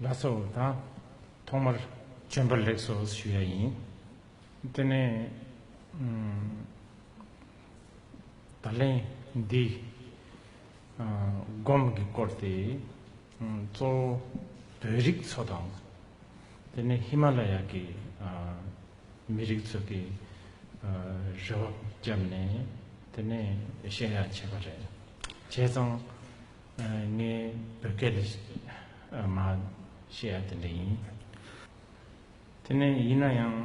ལ་སོ་དང་ཐོག་མར་བྱོན་པར་ལེགས་སོ་ཞུ་ཡ་ཡིན། དེ་ནས་ད་ལན་འདི་སྒོམ་གྱི་སྐོར་ཏེ། གཙོ་བོ་བོད་རིགས་ཚོ་དང། དེ་ནས་ཧི་མ་ལ་ཡ་གི་མི་རིགས་ཚོ་གི་རེ་བ་བརྒྱབ་ནས་དེ་ནས་བཤད་ཡ་བྱས་པ་རེད། བྱས་ཙང་ངའི་བོད་སྐད་ལས་མ་བཤད་ཡ་དེ་འདྲ་ཡིན། དེ་ནས་ཡིན་ན་ཡང།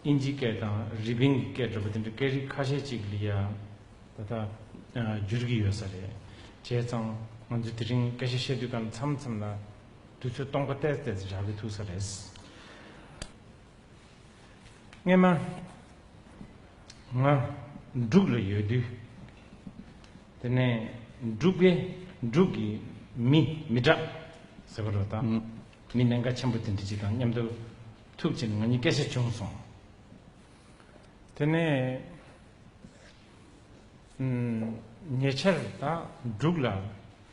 དབྱིན་ཇིའི་སྐད་དང་རི་པིན་གྱི་སྐད་འདྲ་པོ་དེ་འདྲ་སྐད་རིགས་ཁ་ཤས་ཅིག་ལ་ཡང་ད་ལྟ་འགྱུར་གྱི་ཡོད་ས་རེད། བྱས་ཙང་ང་ཚོས་དེ་རིང་སྐད་ཆ་བཤད་དུས་ཀ་མཚམས་མཚམས་ལ་དུས་ཚོད་སྟོང་པ་བསྟད་བསྟད་དེ་གྲག་གི་ཐུག་ས་རེད། སྔས་མ་ང་འབྲུག་ལ་ཡོད་དུས། དེ་ནས་འབྲུག་པས་འབྲུག་གི་མི་མི་སྐྲག་ཟེར་བ་རོ་དང། མི་ནད་འགའ་ཆེན་པོ་དེ་འདྲ་ཅིག་དང་མཉམ་དུ་ཐུག་ཕྱིར་ང་གཉིས་སྐད་ཆ་བྱུང་སོང། དེ་ནས་ཉེ་ཆར་དང་འབྲུག་ལ་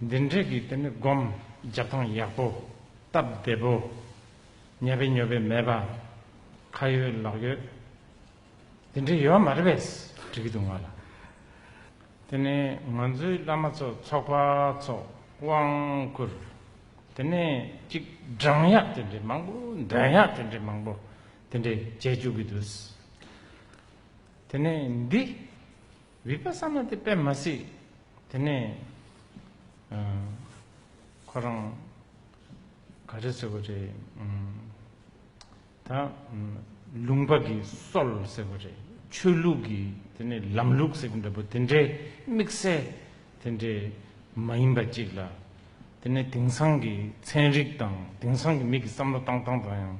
འདི་འདྲས་ཀྱི་དེ་ནི་སྒོམ་རྒྱབ་ཐང་ཡག་པོ། སྟབས་བདེ་པོ། ཉལ་བའི་ཉོལ་བའི་མེད་པ། ཁ་ཡོད་ལག་ཡོད། དེ་འདྲས་ཡོད་མ་རེད་པས་དྲི་གི་འདུག་ང་ལ། དེ་ནི་ང་ཚོའི་བླ་མ་ཚོ་ཚོགས་པ་ཚོ་དབང་བསྐུར། དེ་ནི་གཅིག་སྦྲང་ཡག་དེ་འདྲས་མང་པོ་འདོན་ཡག་དེ་འདྲས་མང་པོ་དེ་འདྲས་བྱས་བཅུག་གི་འདུག། དེ་ནི་འདི་རིག་པ་བསམ་ན་དེ་དཔེ་མ་སྲིད། དེ་ནས་ཁོ་རང་ག་རེ་ཟེར་བ་རེད། ད་ལུང་པ་གི་སྲོལ་ཟེར་བ་རེད། ཆོས་ལུགས་ཀྱི་དེ་ནས་ལམ་ལུགས་ཟེར་གྱི་འདྲ་པོ་དེ་འདྲའི་དམིགས་བསལ་དེ་འདྲའི་མ་ཡིན་པ་ཅིག་ལ། དེ་ནས་དེང་སང་གི་ཚན་རིག་དང་དེང་སང་གི་མི་གི་བསམ་བློ་བཏང་སྟངས་དང་ཡང་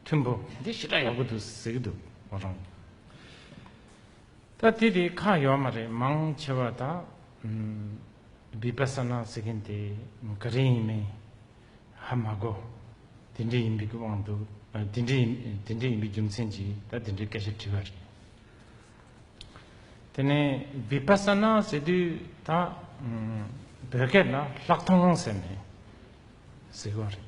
མཐུན་པོ། འདི་ཞེ་དྲག་ཡག་པོ་འདུག་ཟེར་གྱི་འདུག་ང་རང། ད་དེ་དེ་ཁ་ཡོག་མ་རེད་མང་ཆེ་བ་ད Vipassana ཟེར་གིན་དེ་ག་རེ་ཡིན་མིན་ཧ་མ་གོ་དེ་འདྲས་ཡིན་པའི་གི་དབང་དུ་དེ་འདྲས་དེ་འདྲས་ཡིན་པའི་རྒྱུ་མཚན་གྱིས་ད་དེ་འདྲས་སྐད་ཆ་དྲི་བ་རེད་དེ་ནས Vipassana ཟེར་དུས་ད་བོད་སྐད་ལ་ལྷག་མཐོང་ཟེར་ནས་ཟེར་གི་བ་རེད་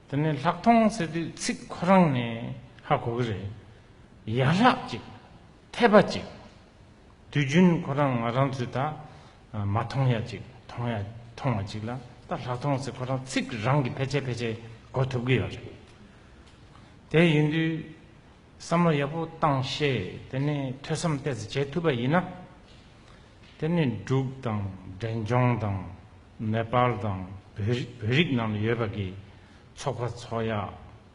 དེ་ནས་ལྷག་མཐོང་ཟེར་དུས་ཚིག་ཁོ་རང་ནས་ཧ་གོ་གི་རེད། ཡན་ལག་གཅིག། འཐད་པ་གཅིག། དུས་རྒྱུན་ཁོ་རང་ང་རང་ཚོས་ད་མ་མཐོང་ཡ་གཅིག་མཐོང་ཡ་མཐོང་བ་གཅིག་ལ་ད་ལྷག་མཐོང་ཚེ་ཁོ་རང་ཚིག་རང་གིས་ཕལ་ཆེར་ཕལ་ཆེར་གོ་ཐུབ་གི་ཡོད་རེད། དེ་ཡིན་དུས་བསམ་བློ་ཡག་པོ་བཏང་ཤེས་དེ་ནས་ཐོས་བསམ་གཏད་ཚེ་བྱེད་ཐུབ་པ་ཡིན་ན། དེ་ནས་འབྲུག་དང་འབྲས་ལྗོངས་དང་ནེ་པཱལ་དང་བོད་རིགས་ནང་ལ་ཡོད་པ་གི་ཚོགས་པ་ཚོགས་ཡག་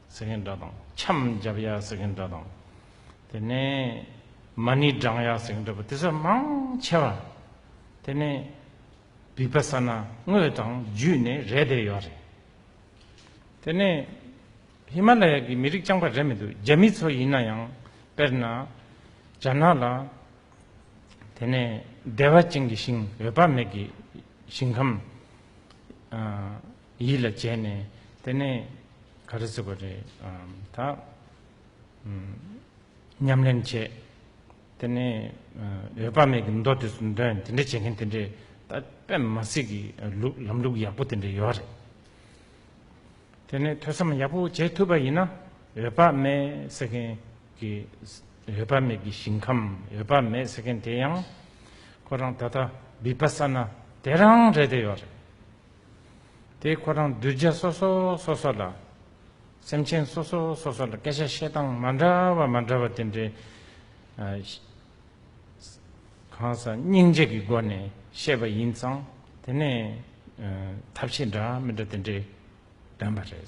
ཟེར་མཁན་འདྲ་དང། འཆམ་རྒྱབ་ཡ་ཟེར་མཁན་འདྲ་དང། དེ་ནས་མ་ཎི་བགྲང་ཡ་ཟེར་མཁན་འདྲ་པོ་དེ་ཚོ་མང་ཆེ་བ། དེ་ནས་བི་པ་ས་ན་དངོས་དང་བརྒྱུད་ནས་རེད་དེ་ཡོད་རེད། དེ་ནས་ཧི་མ་ལ་ཡ་གི་མི་རིགས་རྐྱང་པ་རེད་མི་འདུག་རྒྱ་མི་ཚོ་ཡིན་ན་ཡང་དཔེར་ན་རྒྱ་ནག་ལ། དེ་ནས་བདེ་བ་ཅན་གྱི་ཞིང་འོད་དཔག་མེད་ཀྱི་ཞིང་ཁམས། ཡིད་ལ་བྱས་ནས་དེ་ནས་ག་རེ་ཟེར་བ་རེད་ད། ཉམས་ལེན་བྱས་དེ་ནས་འོད་དཔག་མེད་ཀྱི་མདོ་དེ་ཚོ་འདོན་དེ་འདྲ་བྱེད་མཁན་དེ་འདྲས་ད་པད་མ་སི་ཀྱི་ལམ་ལུགས་ཡག་པོ་དེ་འདྲས་ཡོད་རེད། དེ་ནས་ཐོས་བསམ་ཡག་པོ་བྱེད་ཐུབ་པ་ཡིན་ན་འོད་དཔག་མེད་ཟེར་མཁན་གྱི་འོད་དཔག་མེད་ཀྱི་ཞིང་ཁམས་འོད་དཔག་མེད་ཟེར་མཁན་དེ་ཡང་ཁོ་རང་ད་ལྟ་བིབ་པ་ས་ན་དེ་རང་རེད་དེ་ཡོད་རེད། དེས་ཁོ་རང་གདུལ་བྱ་སོ་སོ་སོ་སོ་ལ། སེམས་ཅན་སོ་སོ་སོ་སོ་ལ་སྐད་ཆ་བཤད་སྟངས་མ་འདྲ་བ་མ་འདྲ་བ་དེ་འདྲའི་གང་ཟག་སྙིང་རྗེ་གི་སྒོ་ནས་བཤད་པ་ཡིན་ཙང་དེ་ནས་ཐབས་ཤེས་འདྲ་མི་འདྲ་དེ་འདྲས་བདམས་པ་རེད།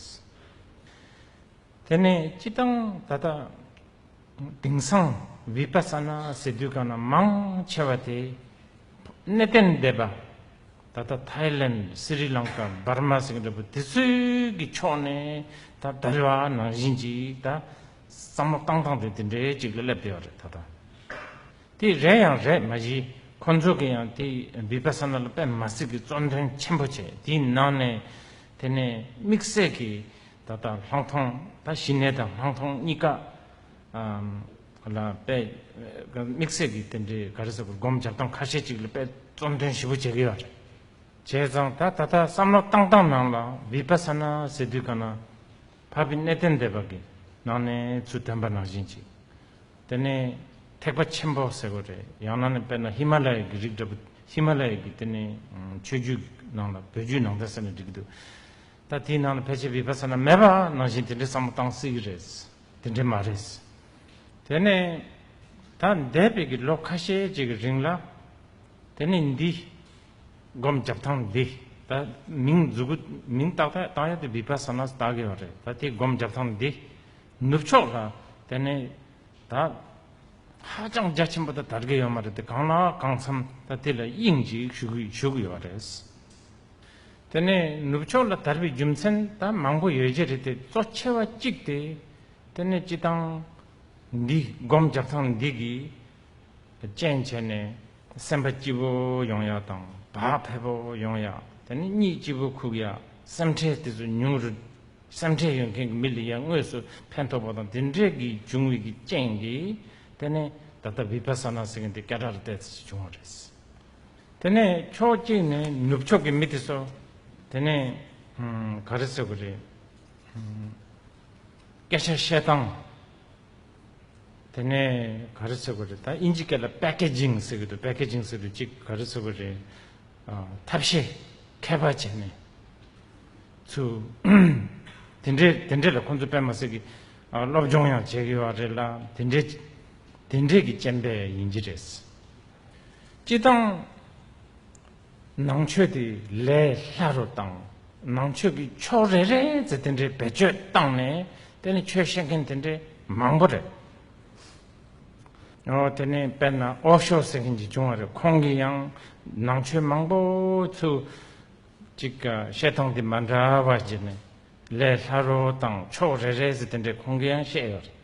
དེ་ནས་སྤྱི་བཏང་ད་ལྟ་དེང་སང་བི་པ་ས་ན་ཟེར་དུས་གང་ན་མང་ཆེ་བ་དེ་གནས་བརྟན་སྡེ་པ། ད་ལྟ་ཐཱའི་ལེན་སི་རི་ལང་ཀཱ་འབར་མ་སིང་ར་པུ་དེ་ཚོའི་གི་ཕྱོགས་ནས་ད་ལྟ་རི་བ་ནང་བཞིན་ཅིག་ད་བསམ་བློ་བཏང་སྟངས་དེ་དེ་འདྲའི་ཅིག་ལ་སླེབས་བསྡད་པ་རེད་ད་ལྟ་དེ་རེད་ཡང་རེད་མ་གཞི་ཁོང་ཚོ་གི་ཡང་དེ་བི་བྷ་སཱ་ན་ལ་པད་མ་སི་གི་གཙོ་འདོན་ཆེན་པོ་བྱས་དེའི་ནང་ནས་དེ་ནས་དམིགས་བསལ་གི་ད་ལྟ་ལྷང་མཐོང་ད་གཞི་ནས་ད་ལྷང་མཐོང་གཉིས་ཀ་ལ་དཔེ་དམིགས་བསལ་གྱི་རྟེན་འབྲེལ་ག་རེ་ཟེར་དགོས་སྒོམ་བྱ་སྟངས་ཁ་ཤས་ཅིག་ལ་དཔེ་རྩོམ་དོན་ཞིབ་པོ་བྱེད་ཀྱི་ཡོད་རེད། བྱས་ཙང་ད་ད་ལྟ་བསམ་བློ་བཏང་སྟངས་ནང་ལ་བི་པ་ས་ན་ཟེར་དུས་ག་ན་བྷ་བི་གནས་བརྟན་སྡེ་བ་གི་ནང་ནས་ཚུལ་སྟོན་པ་ནང་བཞིན་ཅིག་དེ་ནི་ཐེག་པ་ཆེན་པོ་ཟེར་དགོས་རེད་ཡང་ན་ནི་དཔེར་ན་ཧི་མ་ལ་ཡའི་གི་རིགས་འདྲ་པོ་ཧི་མ་ལ་ཡའི་གི་དེ་ནི་ཆོས་རྒྱུད་གི་ནང་ལ་བོད་རྒྱུད་ནང་བསྟན་ཟེར་ནས་བསྒྲིགས་གི་འདུག་ད་དེའི་ནང་ལ་ཕལ་ཆེར་བི་པ་ས་ན་མེད་པ་ནང་བཞིན་དེ་འདྲའི་བསམ་བློ་བཏང་སྲིད་གི་རེད། དེ་འདྲ་མ་རེད། དེ་ནི་ད་འདས་པའི་གི་ལོ་ཁ་ཤས་ཅིག་གི་རིང་ལ། དེ་ནི་འདི། སྒོམ་རྒྱབ་ཐང་འདི། ད་མིང་བརྫུ་གུ་མིང་བཏགས་ཐད་བཏགས་ཡ་དེ་བི་པ་ས་ནཱ་བཏགས་གི་བ་རེད། ད་དེ་སྒོམ་རྒྱབ་ཐང་འདི། ནུབ་ཕྱོགས་ལ་དེ་ནི། ད། ཧ་ཅང་རྒྱ་ཆེན་པོ་ད་དར་གི་ཡོད་མ་རེད་དེ་གང་ལ་གང་འཚམས་ད་དེ་ལ་དབྱིངས་ཅིག་ཞུ་གི་ཡོད་རེད། དེ་ནས་ནུབ་ཕྱོགས་ལ་དར་བའི་རྒྱུ་མཚན་ད་མང་པོ་ཡོད་རྒྱུ་རེད་དེ་གཙོ་ཆེ་བ་གཅིག་སྟེ། དེ་ནི་སྤྱི་བཏང་འདི་སྒོམ་རྒྱག་སྟངས་འདི་གིས་རྐྱེན་བྱས་ནས་སེམས་པ་སྐྱིད་པོ་ཡོང་ཡག་དང་བག་ཕེབས་པོ་ཡོང་ཡག་དེ་ནི་གཉིད་སྐྱིད་པོ་ཁུག་ཡག་སེམས་ཁྲལ་དེ་ཚོ་ཉུང་རུ་སེམས་ཁྲལ་ཡོད་མཁན་གྱི་མི་ལ་ཡང་དངོས་སུ་ཕན་ཐོགས་པ་དང་དེ་འདྲས་ཀྱི་འབྱུང་བའི་གི་རྐྱེན་གྱིས་དེ་ནི་ད་ལྟ་བི་པ་ས་ན་ཟེར་མཁན་དེ་སྐད་སྒྲ་རུ་བལྟས་ཚེ་བྱུང་བ་རེད། དེ་ནས་ཕྱོགས་གཅིག་ནས་ནུབ་ཕྱོགས་ཀྱི་མི་དེ་ཚོ་དེ་ནས་ག་རེ་ཟེར་གི་རེད། སྐད་ཆ་བཤད་སྟངས་དེ་ནས་ག་རེ་ཟེར་གི་རེད་ད་དབྱིན་ཇི་སྐད་ལ Packaging ཟེར་གི་འདུག Packaging ཟེར་དུས་གཅིག་ག་རེ་ཟེར་གི་རེད། ཐབས་ཤེས་ཁད་པར་བྱས་ནས་ཚུ། དེ་འདྲས་དེ་འདྲས་ལ་ཁོང་ཚོ་པད་མ་སེར་གྱི་སློབ་སྦྱོང་ཡང་བྱེད་གི་ཡོད་རེད་ལ་དེ་འདྲས་དེ་འདྲས་ཀྱི་སྤྱན་པས་ཡིན་གྱི་རེད། སྤྱི་དང། ནང་ཆོས་དེ་ལས་ལྷ་རུ་བཏང། ནང་ཆོས་ཀྱི་ཕྱོགས་རེ་རེ་ཚོ་དེ་འདྲའི་བེད་སྤྱོད་བཏང་ནས་དེ་ནི་ཆོས་བཤད་མཁན་དེ་འདྲའི་མང་པོ་རེད། དེ་ནི་དཔེར་ན་ཨོ་ཤོ་ཟེར་མཁན་ཅིག་བྱུང་བ་རེད་ཁོང་གིས་ཡང་ནང་ཆོས་མང་པོ་ཚུལ་གཅིག་བཤད་སྟངས་དེ་མ་འདྲ་བ་བརྒྱུད་ནས་ལས་སླ་རོ་དང་ཕྱོགས་རེ་རེ་ཟེར་དེ་འདྲའི་ཁུངས་སྐྱེལ་ཡང་བཤད་ཡོད་རེད།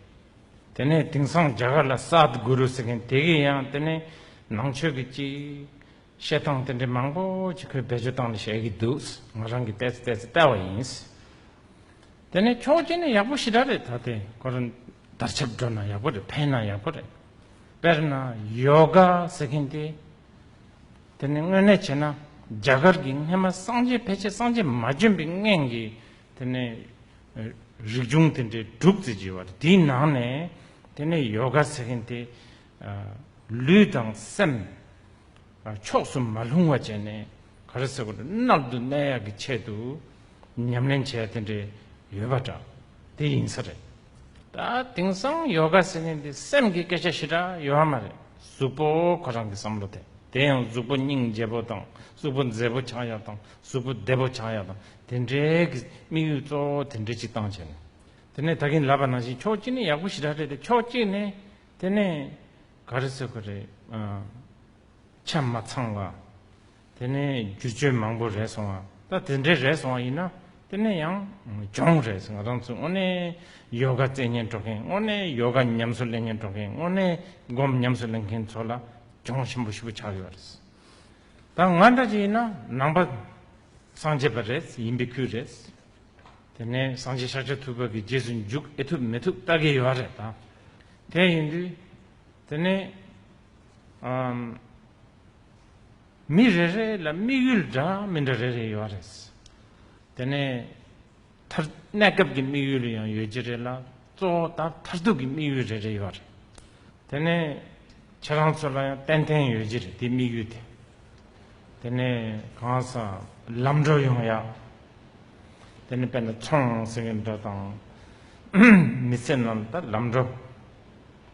དེ་ནས་དེང་སང་རྒྱ་གར་ལ་སཱད་གུ་རུ་ཟེར་མཁན་དེ་གིས་ཡང་དེ་ནས་ནང་ཆོས་ཀྱི་ཅི། བཤད་སྟངས་དེ་འདྲའི་མང་པོ་ཅིག་ཁོས་བེད་སྤྱོད་སྟངས་ལ་བཤད་ཀྱི་འདུག་ང་རང་གིས་བལྟས་ཚེ་བལྟས་ཚེ་བལྟ་བ་ཡིན། དེ་ནས་ཁྱོ་གཅིག་ནི་ཡག་པོ་ཞི་དྲག་རེད་ད་དེ་ཁོ་རང་དར་ཆབ་འགྲོ་ན་ཡག་པོ་རེད་ཕན་ན་ཡག་པོ་རེད། དཔེར་ན་ཡོ་ག་ཟེར་མཁན་དེ། དེ་ནི་དངོས་གནས་བྱས་ན་རྒྱ་གར་གྱི་སྔེ་མ་སངས་རྒྱས་ཕལ་ཆེར་སངས་རྒྱས་མ་བྱོན་པའི་སྔན་གྱི་དེ་ནི་རིག་འབྱུང་དེ་འདྲའི་སྒྲུབ་རྩིས་བགྱིས་པ་དེའི་ནང་ནས་དེ་ནི་ཡོ་ག་ཟེར་མཁན་དེ་ལུས་དང་སེམས་ཕྱོགས་སུ་མ་ལྷུང་བ་བྱས་ནས་ག་རེ་ཟེར་གནག་འདུག་གནས་ཡག་གི་ཆེད་དུ་ཉམས་ལེན་བྱས་དེ་འདྲས་ཡོད་པ་འདྲ་དེ་ཡིན་ས་རེད། ད་དེང་སང་ཡོ་ག་ཟེར་ནས་འདི་སེམས་ཀྱི་སྐད་ཆ་ཞེ་དྲག་ཡོད་ཨ་མ་རེད་གཟུགས་པོ་ཁོ་རང་གི་བསམ་བློ་དེ་དེ་ཡང་གཟུགས་པོ་སྙིང་རྗེ་པོ་དང་གཟུགས་པོ་མཛེས་པོ་ཆགས་ཡག་དང་གཟུགས་པོ་བདེ་པོ་ཆགས་ཡག་དང་དེ་འདྲའི་གི་དམིགས་ཡུལ་གཙོ་བོ་དེ་འདྲའི་ཅིག་བཏང་བྱས་ནས་དེ་ནས་ད་གིན་ལབ་པ་ནང་བཞིན་ཕྱོགས་གཅིག་ནས་ཡག་པོ་ཞེ་དྲག་རེད་དེ་ཕྱོགས་གཅིག་ནས་དེ་ནས་ག་རེ་ཟེར་གི་རེད་ཆ་མ་ཚང་བ། དེ་ནས་བསྒྱུར་བཅོས་མང་པོ་རེད་སོང་བ་ད་དེ་འདྲས་རེད་སོང་བ་ཡིན་ན་དེ་ནས་ཡང་སྦྱོང་རེད་སོང་ང་རང་ཚོ་དངོས་གནས་ཡོ་ག་རྩལ་ཉན་སྤྲོ་མཁན་དངོས་གནས་ཡོ་ག་ཉམས་སུ་ལེན་མཁན་སྤྲོ་མཁན་དངོས་གནས་སྒོམ་ཉམས་སུ་ལེན་མཁན་ཚོ་ལ་སྦྱོང་ཞིམ་པོ་ཞིག་པོ་ཆགས་ཡོད་རེད་ད་ང་འདྲ་ཅིག་ཡིན་ན་ནང་པ་སངས་རྒྱས་པ་རེད་ཡིན་པའི་ཁུལ་རེད་དེ་ནས་སངས་རྒྱས་ཤཱཀྱ་ཐུབ་པ་གི་རྗེས་སུ་འཇུག་ཨེ་ཐུབ་མི་ཐུབ་ལྟ་གི་ཡོད་རེད་ད་དེ་ཡིན་དུས་དེ་ནས་མི་རེ་རེ་ལ་དམིགས་ཡུལ་འདྲ་མི་འདྲ་རེ་རེ་ཡོད་རེད། དེ་ནས་མཐར་གནས་སྐབས་ཀྱི་དམིགས་ཡུལ་ཡང་ཡོད་ཀྱི་རེད་ལ་གཙོ་བོ་དང་མཐར་ཐུག་གི་དམིགས་ཡུལ་རེ་རེ་ཡོད་རེད། དེ་ནས་ཁྱེད་རང་ཚོ་ལ་ཡང་ཏན་ཏན་ཡོད་ཀྱི་རེད་དེ་དམིགས་ཡུལ་དེ། དེ་ནས་གང་སར་ལམ་འགྲོ་ཡོང་ཡ། དེ་ནས་དཔེར་ན་ཚོང་ཟེར་གི་འདྲ་དང། མི་ཚེ་ནང་དུ་ལམ་འགྲོ།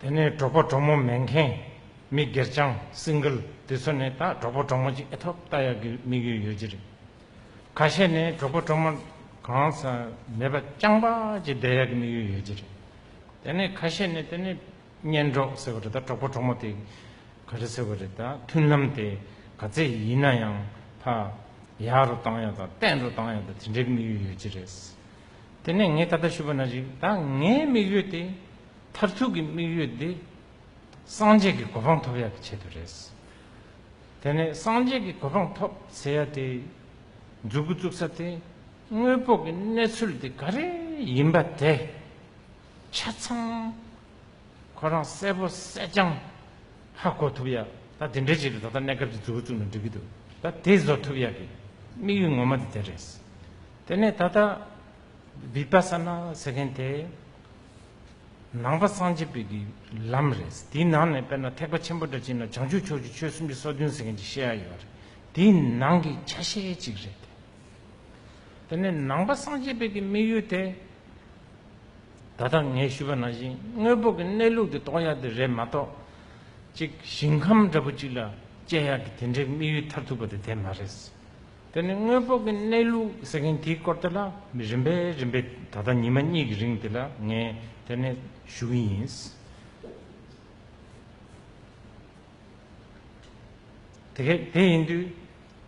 དེ་ནས་གྲོགས་པོ་གྲོགས་མོ་མེག་གྷན། མི་སྒེར་ཅང་སིང་གིལ་དེ་ཚོ་ནི་ད་གྲོགས་པོ་གྲོགས་མོ་གཅིག་ཨེ་ཐོབ་ལྟ་ཡག་གི་དམིགས་ཡུལ་ཡོད་ཀྱི་རེད། ཁ་ཤས་ནི་གྲོགས་པོ་གྲོགས་མོ་གང་ས་མེད་པ་རྐྱང་པ་གཅིག་བསྡད་ཡག་གི་དམིགས་ཡུལ་ཡོད་ཀྱི་རེད། དེ་ནས་ཁ་ཤས་ནི་དེ་ནི་གཉེན་གྲོགས་ཟེར་བ་རེད་ད་གྲོགས་པོ་གྲོགས་མོ་དེ་ག་རེ་ཟེར་བ་རེད་ད་མཐུན་ལམ་དེ་ག་ཚད་ཡིན་ན་ཡང་ཕ་ཡག་རུ་བཏང་ཡག་དང་བརྟན་རུ་བཏང་ཡག་དང་དེ་འདྲའི་དམིགས་ཡུལ་ཡོད་ཀྱི་རེད། དེ་ནས་ངས་ད་ལྟ་ཞུས་པ་ན་རིགས་དང་ངའི་དམིགས་ཡུལ་དེ། མཐར་ཐུག་གི་དམིགས་ཡུལ་འདི། སངས་རྒྱས་ཀྱི་གོ་འཕང་ཐོབ་ཡག་གི་ཆེད་དུ་རེད། དེ་ནས་སངས་རྒྱས་ཀྱི་གོ་འཕང་ཐོབ་ཟེར་ཡག་དེ། འཛུགས་སྐུ་བཙུགས་ས་དེ། དངོས་པོ་གི་གནས་ཚུལ་དེ་ག་རེ་ཡིན་པ་དེ། ཆ་ཚང་ཁོ་རང་གསལ་པོ་གསལ་རྐྱང་ཧ་གོ་ཐུབ་ཡག་ད་དེ་འདྲའི་ཆེད་དུ་ད་ལྟ་གནས་སྐབས་ཀྱི་འཛུགས་སྐུ་བཙུགས་ན་འགྲིག་གི་འདུག་ད་དེ་བཟོ་ཐུབ་ཡག་གི་དམིགས་ཡུལ་ངོ་མ་དེ་དེ་རེད། དེ་ནས་ད་ལྟ Vipassana ཟེར་མཁན་དེ་ནང་པ་སངས་རྒྱས་པའི་ལམ་རེད། དེའི་ནང་ནས་དཔེར་ན་ཐེག་པ་ཆེན་པོ་འདྲ་བྱས་ན་བྱང་ཆུབ་ཕྱོགས་ཀྱི་ཆོས་སུམ་ཅུ་སོ་བདུན་ཟེར་མཁན་གྱི་བཤད་ཡ་ཡོད་པ་རེད། དེ་ནང་གི་ཆ་ཤས་གཅིག་རེད་དེ། དེ་ནས་ནང་པ་སངས་རྒྱས་པའི་དམིགས་ཡུལ་དེ་ད་ལྟ་ངས་ཞུས་པ་ནང་བཞིན་དངོས་པོ་གི་གནས་ལུགས་དེ་རྟོགས་ཡ་དེ་རེད་མ་གཏོགས་གཅིག་ཞིང་ཁམས་འདྲ་པོ་གཅིག་ལ་སྤྱད་ཡ་གི་དེ་འདྲའི་དམིགས་ཡུལ་མཐར་ཐུག་པ་དེ་དེ་མ་རེད། དེ་ནི་དངོས་པོ་གི་གནས་ལུགས་ཟེར་མཁན་དེའི་སྐོར་དེ་ལ་རིམ་པས་རིམ་པས་ད་ལྟ་ཉི་མ་གཉིས་ཀྱི་རིང་དེ་ལ་ངས་དེ་ནས་ཞུ་གི་ཡིན། དེ་གས་དེ་ཡིན་དུས་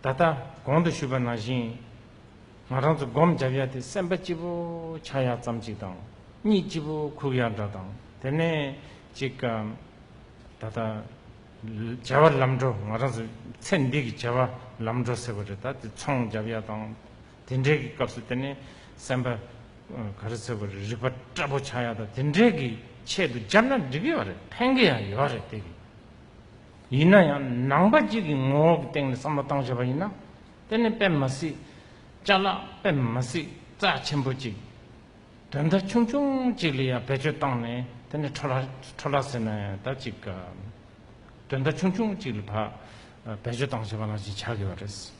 ད་ལྟ་གོང་དུ་ཞུས་པ་ནང་བཞིན་ང་རང་ཚོ་སྒོམ་རྒྱབ་ཡ་དེ་སེམས་པ་སྐྱིད་པོ་ཆགས་ཡ་ཙམ་ཅིག་དང་གཉིད་སྐྱིད་པོ་ཁུག་ཡ་འདྲ་དང་དེ་ནས་ཅིག་ད་ལྟ་བྱ་བ་ལམ་འགྲོ་ང་རང་ཚེ་འདི་གི་བྱ་བ་ལམ་འགྲོ་ཟེར་བ་རེད་ད་དེ་ཚོང་བརྒྱབ་ཡ་དང་དེ་འདྲའི་གི་སྐབས་སུ་དེ་ནི་སེམས་པ་ག་རེ་ཟེར་བ་རེད་རིག་པ་སྐྲ་བོ་ཆག་ཡ་དང་དེ་འདྲའི་གི་ཆེད་དུ་བརྒྱབ་ན་འགྲིག་གི་ཡོད་རེད་ཕན་གི་ཡང་ཡོད་རེད་དེ་གི་ཡིན་ན་ཡང་ནང་པ་གཅིག་གི་ངོ་བོ་གི་སྟེང་ནས་བསམ་བློ་བཏང་བྱས་པ་ཡིན་ན་དེ་ནི་དཔེ་མ་སྲིད་བཅའ་ལག་དཔེ་མ་སྲིད་རྩ་ཆེན་པོ་གཅིག། དོན་མཐའ་ཆུང་ཆུང་གཅིག་ལ་ཡང་བེད་སྤྱོད་བཏང་ནས་དེ་ནི་ཁྲོ་ལྷ་ལྷ་ཟེར་ན་ཡང་ད་ཅིག་ག་དོན་མཐའ་ཆུང་ཆུང་གཅིག་ལ་བ་བེད་སྤྱོད་བཏང་བྱས་པ་ནང་བཞིན་བྱ་དགོས་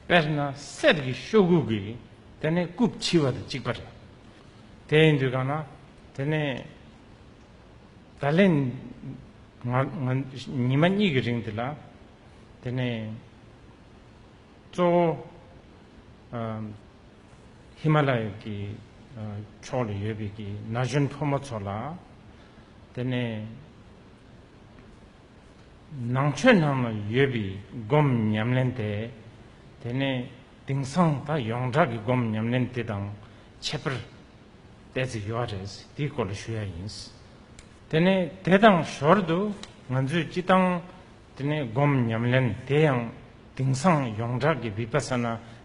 པ་རེད། དཔེར་ན་གསེར་གྱི་ཤོག་གུ་གིས་དེ་ནི་རྐུབ་འཕྱིས་པ་དང་གཅིག་པ་རེད། དེ་ཡིན་དུས་གང་ན་དེ་ནི་ད་ལན་ཉི་མ་གཉིས་ཀྱི་རིང་དེ་ལ་དེ་ནི་གཙོ་བོ། ཧི་མ་ལ་ཡའི་གི་ཕྱོགས་ལ་ཡོད་པའི་གི་ན་གཞོན་ཕོ་མོ་ཚོ་ལ། དེ་ནས་ནང་ཆོས་ནང་ལ་ཡོད་པའི་སྒོམ་ཉམས་ལེན་དེ། དེ་ནས་དེང་སང་ད་ཡོངས་གྲགས་གི་སྒོམ་ཉམས་ལེན་དེ་དང་ཁྱད་པར་གཏད་ཚིག་ཡོད་རེད་དེའི་སྐོར་ལ་ཞུ་ཡ་ཡིན། དེ་ནས་དེ་དང་ཞོར་དུ་ང་ཚོས་སྤྱི་བཏང་དེ་ནས་སྒོམ་ཉམས་ལེན་དེ་ཡང་དིང་སང་ཡོངས་གྲགས་ཀྱི་བི་པ་ས་ན་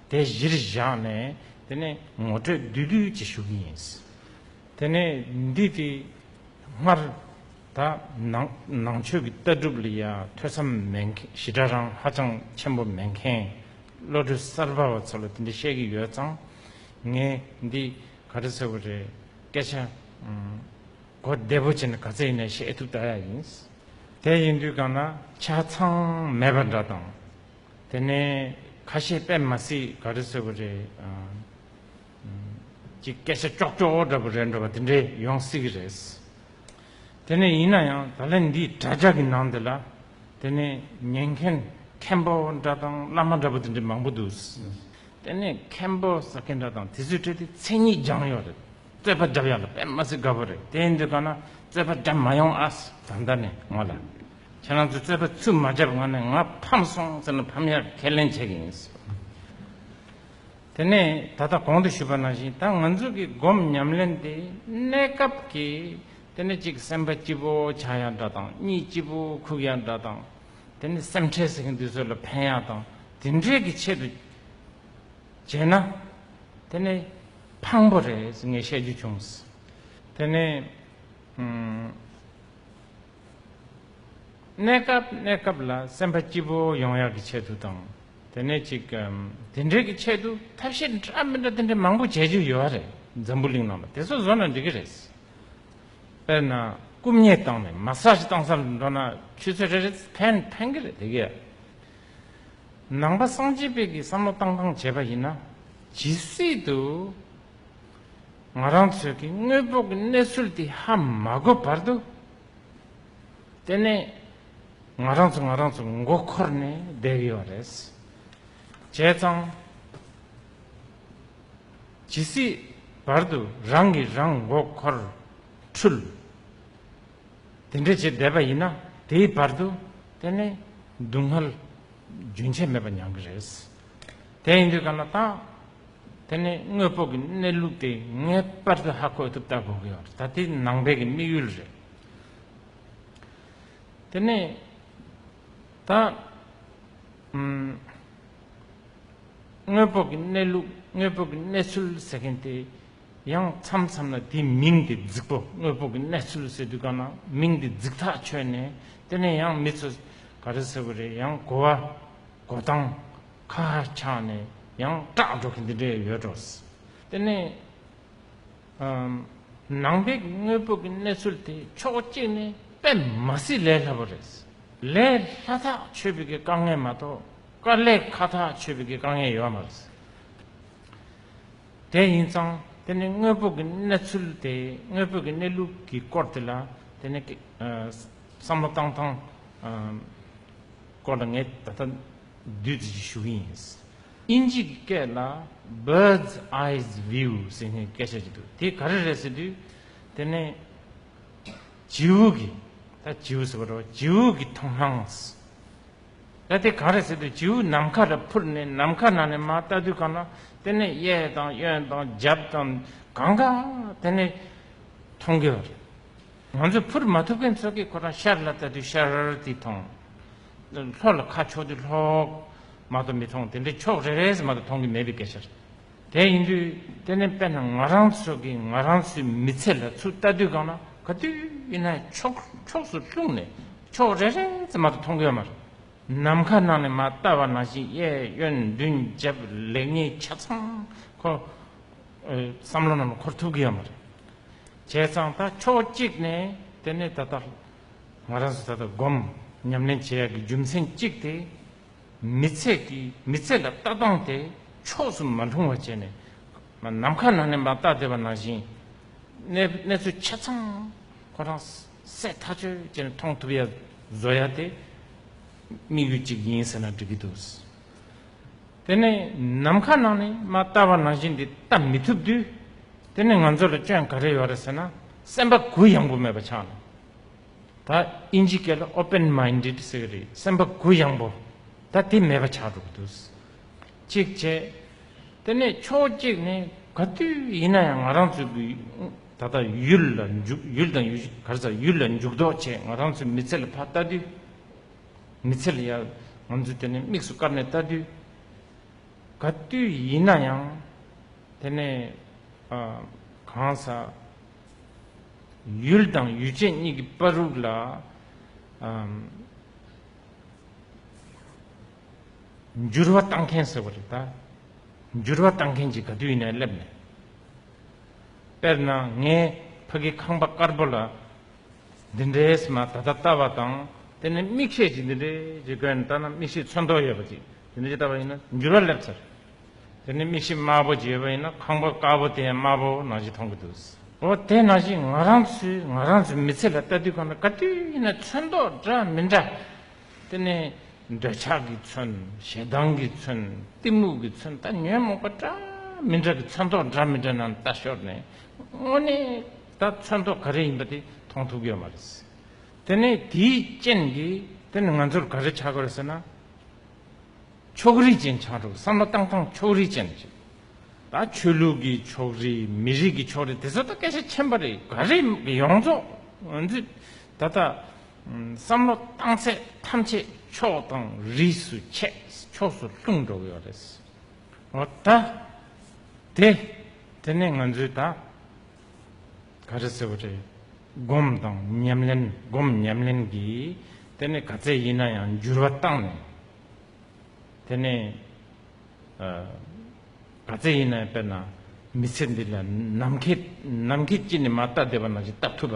དེ་གཞིར་བཞག་ནས་དེ་ནས་ངོ་སྤྲོད་བསྡུས་བསྡུས་ཀྱིས་ཞུ་གི་ཡིན། དེ་ནས་འདི་དེ་སྔར་ད་ནང་ཆོས་ཀྱི་ལྟ་གྲུབ་ལ་ཡང་ཐོས་བསམ་མེད་མཁན་ཞི་དྲག་རང་ཧ་ཅང་ཆེན་པོ་མེད་མཁན་བློ་གྲོས་གསར་པ་བ་ཚོ་ལ་དེ་འདྲ་བཤད་ཀྱི་ཡོད་ཙང་ངས་འདི་ག་རེ་ཟེར་བ་རེད་སྐད་ཆ་གོ་བདེ་པོ་བྱས་ནས་ག་ཚད་ཡིན་ནའི་བཤད་ཐུབ་ད་ཡ་ཡིན། དེ་ཡིན་དུས་གང་ན་ཆ་ཚང་མེད་པ་འདྲ་དང། དེ་ནས་ཁ་ཤས་དཔེ་མ་སྲིད་ག་རེ་ཟེར་བ་རེད། ཅིག་སྐད་ཆ་ཀྱོག་ཀྱོག་འདྲ་པོ་རེད་འདྲ་བ་དེ་འདྲས་ཡོང་སྲིད་གི་རེད། དེ་ནས་ཡིན་ན་ཡང་ད་ལན་འདིའི་དྲ་རྒྱ་གི་ནང་དེ་ལ་དེ་ནས་ཉན་མཁན་མཁན་པོ་འདྲ་དང་བླ་མ་འདྲ་པོ་དེ་འདྲས་མང་པོ་འདུག། དེ་ནས་མཁན་པོ་ཟེར་མཁན་འདྲ་དང་དེ་ཚོའི་གྲས་དེ་མཚན་ཉིད་སྦྱངས་ཡོད་རེད། རྩེད་པ་བརྒྱབ་ཡོང་ལ་དཔེ་མ་ཟིག་དགའ་པོ་རེད་དེ་འདི་ག་ན་རྩེད་པ་བརྒྱབ་མ་ཡོང་ཨ་ཟེར་ད་ལྟ་ནས་ངོ་ལ་ཁྱེད་རང་ཚོས་རྩེད་པ་ཚུར་མ་བརྒྱབ་གོང་ནས་ང་ཕམ་སོང་ཟེར་ན་ཕམ་ཡག་ཁས་ལེན་བྱེད་ཀྱི་ཡིན་ཟེར་བ་དེ་ནས་ད་ལྟ་གོང་དུ་ཞུས་པ་ནང་བཞིན་ད་ང་ཚོ་གི་སྒོམ་ཉམས་ལེན་དེ་གནས་སྐབས་ཀྱི་དེ་ནས་གཅིག་སེམས་པ་སྐྱིད་པོ་ཆགས་ཡག་འདྲ་དང་གཉིས་སྐྱིད་པོ་ཁུག་ཡག་འདྲ་དང་དེ་ནས་སེམས་ཁྲལ་ཟེར་གྱི་འདུག་ཚོད་ལ་ཕན་ཡག་དང་དེ་འདྲའི་གི་ཆེད་དུ་བྱས་ན་དེ་ནས། ཕངས་པོ་རེད་ངས་བཤད་རྒྱུ་བྱུང། དེ་ནས། གནས་སྐབས་གནས་སྐབས་ལ་སེམས་པ་སྐྱིད་པོ་ཡོང་ཡག་གི་ཆེད་དུ་དང། དེ་ནས་ཅིག། དེ་འདྲའི་གི་ཆེད་དུ་ཐབས་ཤེས་འདྲ་མི་འདྲ་དེ་འདྲ་མང་པོ་བྱེད་རྒྱུ་ཡོད་རེད་འཛམ་བུ་གླིང་ནང་ལ་དེ་ཚོ་བཟོ་ན་འགྲིག་གི་རེད། དཔེར་ན་རྐུབ་བརྙས་བཏང་ནས་མ་སྲ་ཞིག་བཏང་ས་ལ་འགྲོ་ན་ཆུ་ཚོད་རེ་རེ་ཕན་གི་རེད་དེ་གས། ནང་པ་སངས་རྒྱས་དཔལ་གྱི་བསམ་བློ་བཏང་སྟངས་བྱས་པ་ཡིན་ན་ཇི་སྲིད་དུ་ང་རང་ཚོས་ཀྱི་དངོས་པོ་གི་གནས་ཚུལ་དེ་ཧ་མ་གོ་བར་དུ་དེ་ནས་ང་རང་ཚོ་ང་རང་ཚོ་མགོ་འཁོར་ནས་བསྡད་ཡོད་རེད། བྱས་ཙང་ཇི་སྲིད་བར་དུ་རང་གིས་རང་མགོ་འཁོར་འཁྲུལ། དེ་འདྲས་བྱས་བསྡད་པ་ཡིན་ན་དེའི་བར་དུ་དེ་ནི་སྡུག་བསྔལ་རྒྱུན་ཆད་མེད་པ་མྱང་གི་རེད། དེ་ཡིན་དུས་ག་ལ་ཐང། དེ་ནི་དངོས་པོ་གི་གནས་ལུགས་དེ་ངེས་པར་དུ་ཧ་གོ་ཐུབ་ལྟ་དགོས་ཀྱི་ཡོད་རེད་ད་དེ་ནང་པའི་གི་དམིགས་ཡུལ་རེད། དེ་ནི་ད་དངོས་པོ་གི་གནས་ལུགས་དངོས་པོ་གི་གནས་ཚུལ་ཟེར་མཁན་དེ་ཡང་མཚམས་མཚམས་ལ་དེའི་མིང་དེ་རྫིག་པོ་དངོས་པོ་གི་གནས་ཚུལ་ཟེར་དུས་གང་ན་མིང་དེ་རྫིག་ཐག་ཆོད་ནས་དེ་ནས་ཡང་མི་ཚོས་ག་རེ་ཟེར་བ་རེད་ཡང་གོ་བ་གོ་སྟངས་ཁ་ཧ་ཆགས་ནས་ཡང་སྐྲག་འགྲོ་གི་འདི་འདྲས་ཡོད་འགྲོ། དེ་ནས་ནང་པའི་དངོས་པོ་གི་གནས་ཚུལ་དེ་ཕྱོགས་གཅིག་ནས་དཔེ་མ་སྲིད་ལས་སླ་བོ་རེད། ལས་སླ་ཐག་ཆོད་པའི་གི་དཀའ་ངལ་མ་གཏོགས་དཀའ་ལས་ཁ་ཐག་ཆོད་པའི་གི་དཀའ་ངལ་ཡོད་མ་རེད། དེ་ཡིན་ཙང་དེ་ནི་དངོས་པོ་གི་གནས་ཚུལ་དེ་དངོས་པོ་གི་གནས་ལུགས་ཀྱི་སྐོར་དེ་ལ་དེ་ནི་བསམ་བློ་བཏང་སྟངས་སྐོར་ལ་ངས་ད་ལྟ་བསྡུས་ཏེ་ཞུ་གི་ཡིན། དབྱིན་ཇི་གི་སྐད་ལ Bird's Eyes View ཟེར་ནས་སྐད་ཆ་བྱེད་འདུག་དེ་ག་རེ་རེད་ཟེར་དུས་དེ་ནི་བྱེའུ་གི་ད་བྱེའུ་ཟེར་བ་འདྲ་བོ་བྱེའུ་གི་མཐོང་སྣང། ད་དེ་ག་རེ་ཟེར་དུས་བྱིའུ་ནམ་མཁའ་རུ་འཕུར་ནས་ནམ་མཁའ་ནང་ནས་མ་བལྟ་དུས་གང་ན་དེ་ནས་གཡས་དང་གཡོན་དང་རྒྱབ་དང་གང་ག་དེ་ནས་མཐོང་གི་བ་རེད། ང་ཚོ་འཕུར་མ་ཐུབ་མཁན་ཚོ་གིས་ཁོ་རང་ཤར་ལ་བལྟ་དུས་ཤར་ར་ར་དེ་མཐོང། ལྷོ་ལ་ཁ་ཕྱོགས་དུས་ལྷོག་མ་དང་མི་མཐོང་དེ་འདྲའི་ཕྱོགས་རེ་རེ་ཟེར་མ་དང་མཐོང་གི་མེད་པའི་སྐད་ཆ་རེད། དེ་ཡིན་དུས་དེ་ནི་དཔེར་ན་ང་རང་ཚོ་གིས་ང་རང་ཚོའི་མི་ཚེ་ལ་ཚུར་ལྟ་དུས་གང་ན་ག་དུས་ཡིན་ན་ཕྱོགས་ཕྱོགས་སུ་ལྷུང་ནས་ཕྱོགས་རེ་རེ་ཙམ་མ་གཏོགས་མཐོང་གི་མ་རེད། ནམ་མཁའ་ནང་ནས་མ་བལྟ་བ་ནང་བཞིན་གཡས་གཡོན་མདུན་རྒྱབ་ལེགས་ཉེས་ཆ་ཚང་ཁོ་བསམ་བློ་རྣམས་འཁོར་ཐུབ་གི་མ་རེད། བྱས་ཙང་ད་ཕྱོགས་གཅིག་ནས་དེ་ནི་ད་ལྟ་ང་རང་ཚོ་ད་ལྟ་སྒོམ་ཉམས་ལེན་བྱེད་ཡག་གི་རྒྱུ་མཚན་གཅིག་དེ། མི་ཚད་ཀྱིས་མི་ཚད་ལ་ལྟ་སྟངས་དེ་ཕྱོགས་སུ་མ་ལྷུང་བ་བྱས་ནས། ནམ་མཁའ་ནང་ནས་མ་བརྟགས་བསྡད་པ་ནང་བཞིན། གནས་གནས་ཚུལ་ཆ་ཚང་ཁོ་རང་གསལ་ཐག་ཆོད་བྱས་ནས་མཐོང་ཐུབ་ཡ་བཟོ་ཡ་དེ་དམིགས་ཡུལ་གཅིག་ཡིན་ཟེར་ན་འགྲིག་གི་འདུག། དེ་ནས་ནམ་མཁའ་ནང་ནས་མ་བརྟགས་པ་ནང་བཞིན་འདི་ལྟ་མི་ཐུབ་དུས། དེ་ནི་ང་ཚོ་ལ་སྐྱོན་ག་རེ་ཡོད་རེད་ཟེར་ན་སེམས་པ་གུ་ཡངས་པོ་མེད་པ་ཆགས་ནས། ད་ཨིན་ཇི་སྐད་ལ open minded ཟེར་གི་རེད་སེམས་པ་གུ་ཡངས་པོ་ད་དེ་མེད་པ་ཆགས་འགྲོ་གི་འདུག་གཅིག་བྱས། དེ་ནས་ཕྱོགས་གཅིག་ནས་ག་དུས་ཡིན་ན་ཡང་ང་རང་ཚོའི་གི་ད་ལྟ་ཡུལ་ལ་འཇུག་ཡུལ་དང་གར་ས་ཡུལ་ལ་འཇུག་ལྡོག་བྱས་ང་རང་ཚོའི་མི་ཚེ་ལ་ཕ་ལྟ་དུས་མི་ཚེ་ལ་ཡང་ང་ཚོས་དེ་ནས་དམིགས་སུ་བཀར་ནས་ལྟ་དུས་ག་དུས་ཡིན་ན་ཡང་དེ་ནས་གང་ས། ཡུལ་དང་ཡུལ་ཅན་གཉིས་ཀྱི་དཔའ་རུག་ལ། འགྱུར་བ་གཏང་མཁན་ཟེར་བ་རེད་ད། འགྱུར་བ་གཏང་མཁན་གྱི་ག་དུས་ཡིན་ནའི་སླེབས་ནས། དཔེར་ན་ངའི་ཕ་གི་ཁང་པ་དཀར་པོ་ལ། འདི་འདྲའི་ཟེར་ན་ད་ལྟ་ལྟ་བ་དང། དེ་ནས་མིག་ཤེས་ཀྱིས་འདི་འདྲའི་ཞེས་བཀོད་ནས་ལྟ་ན་མིག་ཤེས་ཚོན་མདོག་ཡོད་པ་ཅིག་འདི་འདྲའི་ལྟ་བ་ཡིན་ན་འགྱུར་བ་སླེབས་ཚར། དེ་ནས་མིག་ཤེལ་དམར་པོ་འབྱེད་པ་ཡིན་ན་ཁང་པ་དཀར་པོ་དེ་དམར་པོ་ནང་བཞིན་མཐོང་གི་འདུག་ཟེར། འོ་དེ་ནང་བཞིན་ང་རང་ཚོས་ང་རང་ཚོའི་མི་ཚེ་ལ་ལྟ་དུས་གང་ལྟར་ག་དུས་ཡིན་ན་ཚོན་མདོག་འདྲ་མི་འདྲ་དེ་ནས་འདོད་ཆགས་ཀྱི་ཚོན་ཞེ་སྡང་གི་ཚོན་གཏི་མུག་གི་ཚོན་ལྟ་ཉོན་མོངས་པ་འདྲ་མི་འདྲ་གི་ཚོན་མདོག་འདྲ་མི་འདྲ་རྣམས་ལྟ་ཞོར་ནས་དངོས་གནས་ད་ཚོན་མདོག་ག་རེ་ཡིན་པ་དེ་མཐོང་ཐུབ་ཀྱི་ཡོད་མ་རེད། དེ་ནས་དེའི་རྐྱེན་གྱིས་དེ་ནི་ང་ཚོར་ག་རེ་ཆགས་ཀྱི་རེད་ཟེར་ན། ཕྱོགས་རིས་ཅན་ཆགས་འགྲོ་བསམ་བློ་བཏང་སྟངས་ཕྱོགས་རིས་ཅན་རེད། ད་ཆོས་ལུགས་ཀྱི་ཕྱོགས་རིས་མི་རིགས་ཀྱི་ཕྱོགས་རིས་དེ་ཚོ་ད་སྐད་ཆ་ཆེན་པོ་རེད་ག་རེད་ཡོངས་རྫོགས་ད་ལྟ་བསམ་བློ་བཏང་ཚད་ཐམས་ཅད་ཕྱོགས་དང་རིས་སུ་ཆད་ཕྱོགས་སུ་ལྷུང་འགྲོ་གི་ཡོད་རེད། ད་དེ་ནས་ང་ཚོས་ད། ག་རེ་ཟེར་བ་རེད། སྒོམ་དང་ཉམས་ལེན་སྒོམ་ཉམས་ལེན་གྱིས་དེ་ནི་ག་ཚད་ཡིན་ན་ཡང་འགྱུར་བ་བཏང་ནས། དེ་ནི་ག་ཚད་ཡིན་ན་ཡང་དཔེར་ན་མི་ཚེ་འདི་ལ་ནམ་མཁའི་ནམ་མཁའི་དཀྱིལ་ནས་མ་བལྟ་བསྡད་པ་ན་བཞིན་བལྟ་ཐུབ་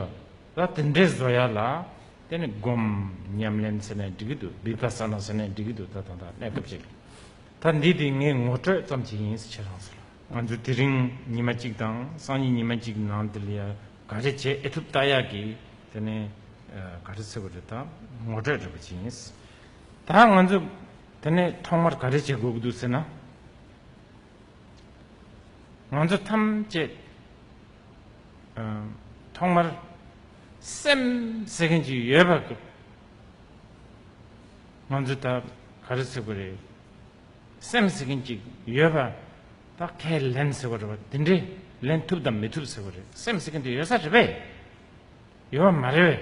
པ་ལ་དེ་འདྲའི་བཟོ་ཡ་ལ་དེ་ནི་སྒོམ་ཉམས་ལེན་ཟེར་ནས་འགྲིག་གི་འདུག་བིབྷ་ས་ན་ཟེར་ནས་འགྲིག་གི་འདུག་ད་ཐོག་མཐའ་གནས་སྐབས་ཅིག། ད་འདི་དེ་ངའི་ངོ་སྤྲོད་ཙམ་གྱིས་ཡིན་ཟེར་རང་ཟེར་ལ། ང་ཚོ་དེ་རིང་ཉི་མ་གཅིག་དང་སང་ཉིན་ཉི་མ་གཅིག་ནང་དེ་ལ་ག་རེ་བྱེད་ཨེ་ཐུབ་བལྟ་ཡ་གི། དེ་ནས་ག་རེ་ཟེར་བ་རེད་ད་ངོ་སྤྲོད་རེད་པ་གྱིས་ཡིན། ད་ང་ཚོ་དེ་ནས་ཐོག་མར་ག་རེ་བྱེད་དགོས་ཀྱི་འདུག་ཟེར་ན། ང་ཚོ་ཐམས་ཅད་ཐོག་མར་སེམས་ཟེར་མཁན་ཅིག་ཡོད་པ། ང་ཚོ་ད་ག་རེ་ཟེར་གི་རེད་སེམས་ཟེར་མཁན་ཅིག་ཡོད་པ་ད་ཁས་ལེན་ཟེར་བ་རེད་བ་དེ་འདྲས་ལེན་ཐུབ་དང་མི་ཐུབ་ཟེར་བ་རེད་སེམས་ཟེར་མཁན་དེ་ཡོད་ས་རེད་པས་ཡོད་བ་མ་རེད་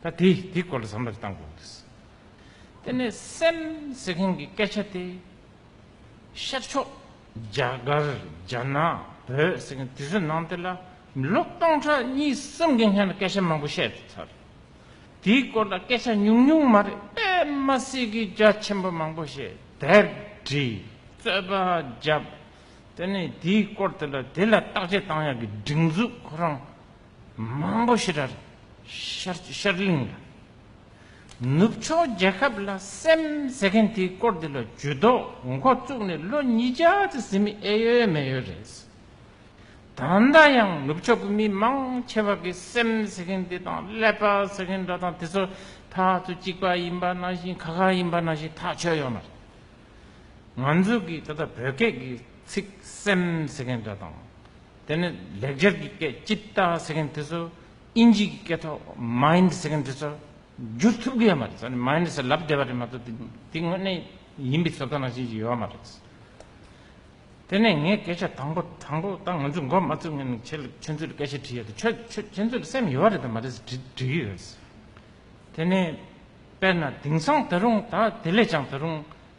བས་ད་དེ་དེ་སྐོར་ལ་བསམ་བློ་བཏང་དགོས་རེད་དེ་ནས་སེམས་ཟེར་མཁན་གྱི་སྐད་ཆ་དེ་ཤར་ཕྱོགས་རྒྱ་གར་རྒྱ་ནག་བོད་ཟེར་མཁན་དེ་ཚོའི་ནང་དེ་ལ་མི་ལོ་སྟོང་ཕྲག་གཉིས་གསུམ་གྱི་སྔན་ལ་སྐད་ཆ་མང་པོ་བཤད་ཐུབ་ཚར། དེའི་སྐོར་ལ་སྐད་ཆ་ཉུང་ཉུང་མ་རེད་པདྨ་སྲས་ཀྱིས་རྒྱ་ཆེན་པོ་མང་པོ་ཞིག་དེབ་བྲིས་རྩོད་པ་བརྒྱབ། དེ་ནས་དེའི་སྐོར་དེ་ལ་དེ་ལ་བརྟག་དཔྱད་བཏང་ཡག་གི་སྒྲིག་འཛུགས་ཁོ་རང་མང་པོ་ཞིག་ར་ཤར་གླིང་ལ་ནུབ་ཕྱོགས་རྒྱལ་ཁབ་ལ་སེམས་ཟེར་མཁན་དེའི་སྐོར་འདི་ལ་ཇུས་གཏོགས་མགོ་བཙུགས་ནས་ལོ་ཉིས་བརྒྱ་ཙམ་ཟིན་མིན་ཨེ་ཡོད་མེད་ཡོད་རེད། ད་ལྟ་ཡང་ནུབ་ཕྱོགས་ཀྱི་མི་མང་ཆེ་བ་གིས་སེམས་ཟེར་མཁན་དེ་དང་ཀླད་པ་ཟེར་མཁན་འདྲ་དང་དེ་ཚོ་ཐག་ཚོད་གཅིག་པ་ཡིན་པ་ནང་བཞིན་ག་ག་ཡིན་པ་ནང་བཞིན་ཐག་ཆོད་ཡོད་མ་རེད། ང་ཚོ་གིས་ད་ལྟ་བོད་སྐད་ཀྱི་ཚིག་སེམས་ཟེར་མཁན་འདྲ་དང། དེ་ནས་ལེགས་སྦྱར་གྱི་སྐད Chitta ཟེར་མཁན་དེ་ཚོ་དབྱིན་ཇིའི་སྐད་ཐོག Mind ཟེར་མཁན་དེ་ཚོར་བསྒྱུར་ཐུབ་གི་ཡོད་མ་རེད་ས་ནི Mind ཟེར་ལབ་བསྡད་པ་རེད་མ་གཏོགས་དེ་དེ་དངོས་གནས་ཡིན་པའི་ཚོད་ལྟ་ནང་བཞིན་ཞིག་ཡོད་མ་རེད། དེ་ནས་ངའི་སྐད་ཆ་དང་པོ་དང་པོ་ད་ང་ཚོས་འགོ་མ་བཙུགས་ངས་ནི་ཁྱེད་ལ་ཁྱོད་ཚོས་ལ་སྐད་ཆ་དྲིས་ཡོད་དེ་ཁྱོད་ཁྱོད་ཁྱོད་ཚོས་ལ་སེམས་ཡོད་རེད་དམ་མ་རེད་ཟེར་དྲིས་དྲིས་ཀྱི་ཡོད། དེ་ནས་དཔེར་ན་དེང་སང་ད་རུང་ད་དེ་ལས་ཀྱང་ད་རུང་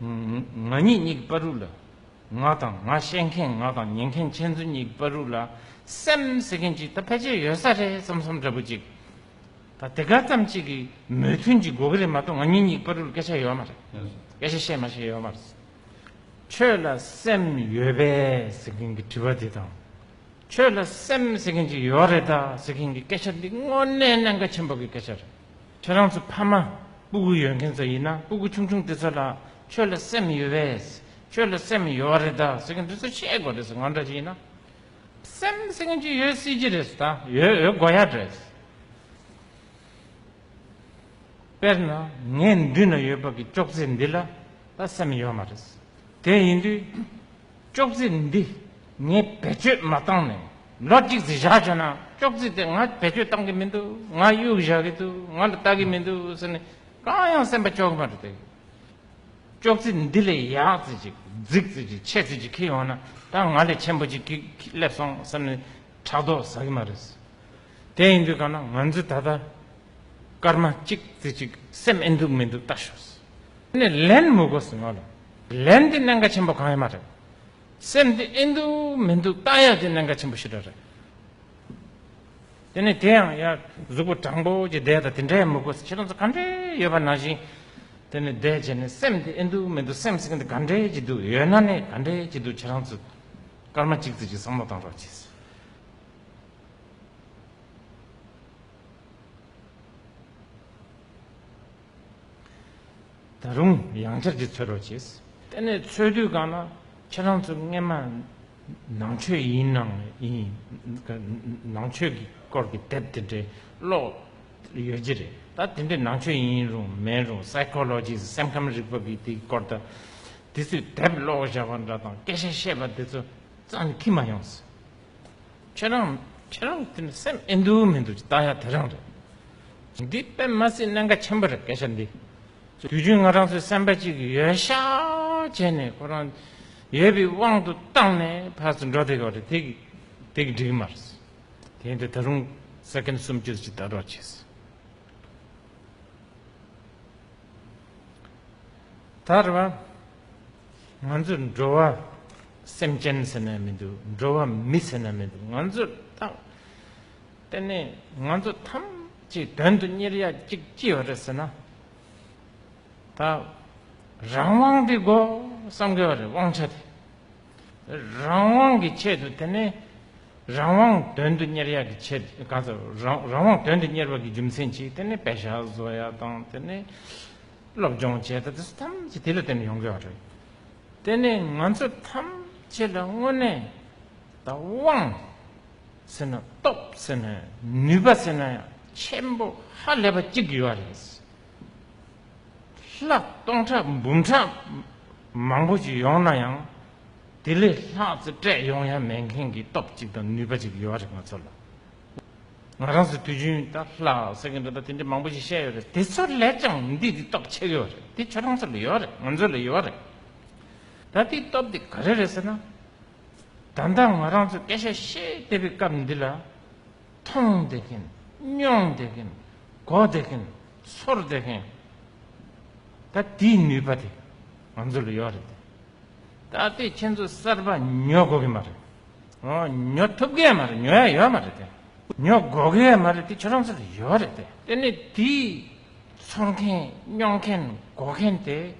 ང་ཉིད་གཉིས་ཀྱི་པར་རུ་ལ། ང་དང་ང་བཤད་མཁན་ང་དང་ཉན་མཁན་ཁྱེད་ཚོ་གཉིས་ཀྱི་པར་རུ་ལ། སེམས་ཟེར་མཁན་གཅིག་ད་ཕལ་ཆེར་ཡོད་ས་རེད་བསམ་བསམ་འདྲ་པོ་གཅིག། ད་དེ་ག་ཙམ་གཅིག་གི་མོས་མཐུན་གཅིག་དགོས་ཀྱི་རེད་མ་གཏོགས་ང་ཉིད་གཉིས་ཀྱི་པར་རུ་ལ་སྐད་ཆ་ཡོད་མ་རེད། སྐད་ཆ་བཤད་མ་བཤད་ཡོད་མ་རེད། ཁྱོད་ལ་སེམས་ཡོད་པས་ཟེར་མཁན་གྱི་དྲི་བ་དེ་དང། ཁྱོད་ལ་སེམས་ཟེར་མཁན་གཅིག་ཡོད་རེད་དཱ་ཟེར་མཁན་གྱི་སྐད་ཆ་འདི་དངོས་གནས་གནད་འགག་ཆེན་པོ་གི་སྐད་ཆ་རེད། ཁྱེད་རང་ཚོ་ཕ་མ་སྤུ་གུ་ཡོད་མཁན་ཚོ་ཡིན་ན་སྤུ་གུ་ཆུང་ཆུང་དེ་ཚོ་ལ་ཁྱོད་ལ་སེམས་ཡོད་པས་ཁྱོད་ལ་སེམས་ཡོད་རེད་ད་ཟེར་མཁན་དེ་ཚོ་ཤེས་དགོས་རེད་ང་འདྲ་ཞིག་ཡིན་ན་སེམས་ཟེར་མཁན་ཅིག་ཡོད་སྲིད་ཀྱི་རེད་ད་ཡོད་ཡོད་དགོས་ཡ་རེད། དཔེར་ན་ངའི་མདུན་ན་ཡོད་པ་གི་ཅོག་ཙེ་འདི་ལ་ད་སེམས་ཡོད་མ་རེད་དེ་ཡིན་དུས། ཅོག་ཙེ་ནི་འདི་ངས་བེད་སྤྱོད་མ་བཏང་ནས་ལོ་གཅིག་ཙི་བཞག་བྱས་ན་ཅོག་ཙེ་དེ་ང་བེད་སྤྱོད་བཏང་གི་མི་འདུག་ང་གཡུག་བཞག་གི་འདུག་ང་ལ་བལྟ་གི་མི་འདུག་ཟེར་ནས་གང་ཡང་སེམས་པ་སྐྱོ་གི་མ་རེད་དེ། ཅོག་ཙེ་འདི་ལས་ཡག་ཙི་ཅིག་རྫིག་ཙི་ཅིག་ཆད་ཙི་ཅིག་ཁྱི་ཡོང་ན་ད་ང་ལས་ཆེན་པོ་ཅིག་ཁྱི་སླེབས་སོང་ཟེར་ནས་ཕྲག་དོག་ཟ་གི་མ་རེད། དེ་ཡིན་དུས་གང་ན་ང་ཚོས་ད་ལྟ་སྐར་མ་གཅིག་ཙི་ཅིག་སེམས་ཨེ་འདུག་མི་འདུག་བལྟ་ཞོག་ཟེར་ནས་ལན་མི་གོ་ཟེར་ང་ལ་ལན་འདི་གནད་འགག་ཆེན་པོ་གང་ཡང་མ་རེད། སེམས་འདི་ཨེ་འདུག་མི་འདུག་བརྟག་ཡ་དེ་གནད་འགག་ཆེན་པོ་ཞིག་རེད། དེ་ནས་དེ་ཡང་ཡར་གཟུགས་པོ་དྲང་པོ་གྱི་བརྡས་དང་དེ་འདྲའི་མི་དགོས་ཁྱེད་རང་ཚོ་ག་འདྲས་ཡོད་པ་ནང་བཞིན། དེ་ནས་བརྡས་བྱས་ནས་སེམས་འདི་ཨེ་འདུག་མི་འདུག་སེམས་སེམས་འདི་ག་འདྲས་ཀྱི་འདུག་ཡོད་ན་ནས་ག་འདྲས་ཀྱི་འདུག་ཁྱེད་རང་ཚོ་སྐར་མ་གཅིག་རྩིས་ཀྱི་བསམ་བློ་བཏང་རོགས་གྱིས། ད་རུང་ཡང་བསྐྱར་གྱི་འཚོལ་རོགས་བྱེད། དེ་ནས་འཚོལ་དུས་གང་ན་ཁྱེད་རང་ཚོ་རྔན་མ་ནང་ཆོས་ཡིན་ནང་ནང་ཆོས་ཀྱི་སྐོར་གྱི་དེབ་དེ་འདྲའི་ཀློག་ཡོད་ཀྱི་རེད་ད་དེ་འདྲའི་ནང་ཆོས་ཡིན་རུང་མིན་རུང Psychology སེམས་ཁམས་རིག་པ་གི་དེའི་སྐོར་དང་དེ་ཚོའི་དེབ་ཀློག་བཞག་པ་འདྲ་དང་སྐད་ཆ་བཤད་པ་དེ་ཚོ་རྩ་ནས་ཁྱི་མ་ཡོང་ཟེར། ཁྱེད་རང་ཁྱེད་རང་གི་དེ་སེམས་ཨེ་འདུག་མི་འདུག་ཅི་ལྟ་ཡག་དེ་རང་རེད། འདི་པད་མ་སྲིད་གནས་འགའ་ཆེན་པོ་རེད་སྐད་ཆ་འདི་དུས་རྒྱུན་ང་རང་ཚོའི་སེམས་པ་གཅིག་གི་ཡོད་ཤག་བྱས་ནས་ཁོ་རང་ཡོད་པའི་དབང་དུ་བཏང་ནས་ཕར་ཚུར་འགྲོ་དེ་ཡོག་རེད་དེ་དེ་གི་འགྲིག་མ་རེད། དེ་ཡིན་དུས་ད་རུང་ས་ཁན་སུམ་ཅུ་རེ་ཅི་ལྟ་རོགས་བྱས། ད་རེད་བ། ང་ཚོས་འགྲོ་བ་སེམས་ཅན་ཟེར་ན་མི་འདུག་འགྲོ་བ་མི་ཟེར་ན་མི་འདུག་ང་ཚོས་ཏག་དེ་ནས་ང་ཚོ་ཐམས་ཅད་དོན་དུ་གཉེར་ཡ་གཅིག་ཅི་ཡོད་རེད་ཟེར་ན་ད་རང་དབང་གི་སྒོ་བསམ་དགོས་པ་རེད་དབང་ཆ་དེ་རང་དབང་གི་ཆེད་དུ་དེ་ནས་རང་དབང་དོན་དུ་གཉེར་ཡ་གི་ཆེད་ག་ཚོད་རང་དབང་དོན་དུ་གཉེར་བ་གི་རྒྱུ་མཚན་གཅིག་དེ་ནས་བེ་ཤ་བཟོ་ཡ་དང་དེ་ནས་སློབ་སྦྱོང་བྱས་ད་དུས་ཐམས་ཅད་དེ་ལ་བརྟེན་ནས་ཡོང་གི་བ་རེད། དེ་ནས་ང་ཚོ་ཐམས་ཅད་ལ་དངོས་གནས་ད་དབང་ཟེར་ན་སྟོབས་ཟེར་ན་ནུས་པ་ཟེར་ན་ཡང་ཆེན་པོ་ཧ་ལས་པ་གཅིག་ཡོད་བ་རེད། ལྷག་སྟོང་ཕྲག་འབུམ་ཕྲག་མང་པོ་ཞིག་ཡོང་ན་ཡང་དེ་ལས་ལྷག་ཙེ་སྤྲད་ཡོང་ཡ་མེད་མཁན་གྱི་སྟོབས་གཅིག་དང་ནུས་པ་གཅིག་ཡོད་བ་རེད་ང་ཚོ་ལ། ང་རང་ཚོ་དུས་རྒྱུན་ལྟར་ལྷ་ཟེར་གྱི་འདུག་ད་དེ་འདྲའི་མང་པོ་ཞིག་བཤད་ཡོད་རེད་དེ་ཚོ་ལས་ཀྱང་འདི་འདི་སྟོབས་ཆེ་གི་ཡོད་རེད་དེ་ཁྱོད་རང་ཚོ་ལ་ཡོད་རེད་ང་ཚོ་ལ་ཡོད་རེད་ད་དེའི་སྟོབས་དེ་ག་རེ་རེད་ཟེར་ན། ད་ལྟ་ང་རང་ཚོ་སྐད་ཆ་བཤད་བསྡད་པའི་སྐབས་འདི་ལ་མཐོང་བསྡད་གིན་མྱོང་བསྡད་གིན་གོ་བསྡད་གིན་ཚོར་བསྡད་གིན་ད་དེའི་ནུས་པ་དེ་ང་ཚོ་ལ་ཡོད་རེད་དེ་ད་ལྟའི་ཁྱེད་ཚོ་གསར་པ་ཉོ་དགོས་གི་མ་རེད། ཉོ་ཐུབ་གི་མ་རེད་ཉོ་ཡ་ཡོད་མ་རེད་དེ། ཉོ་དགོས་གི་མ་རེད་དེ་ཁྱོད་རང་ཚོ་ལ་ཡོད་རེད་དེ། དེ་ནས་དེའི་འཚོ་མཁན་སྨྱོ་མཁན་སྒོ་མཁན་དེ།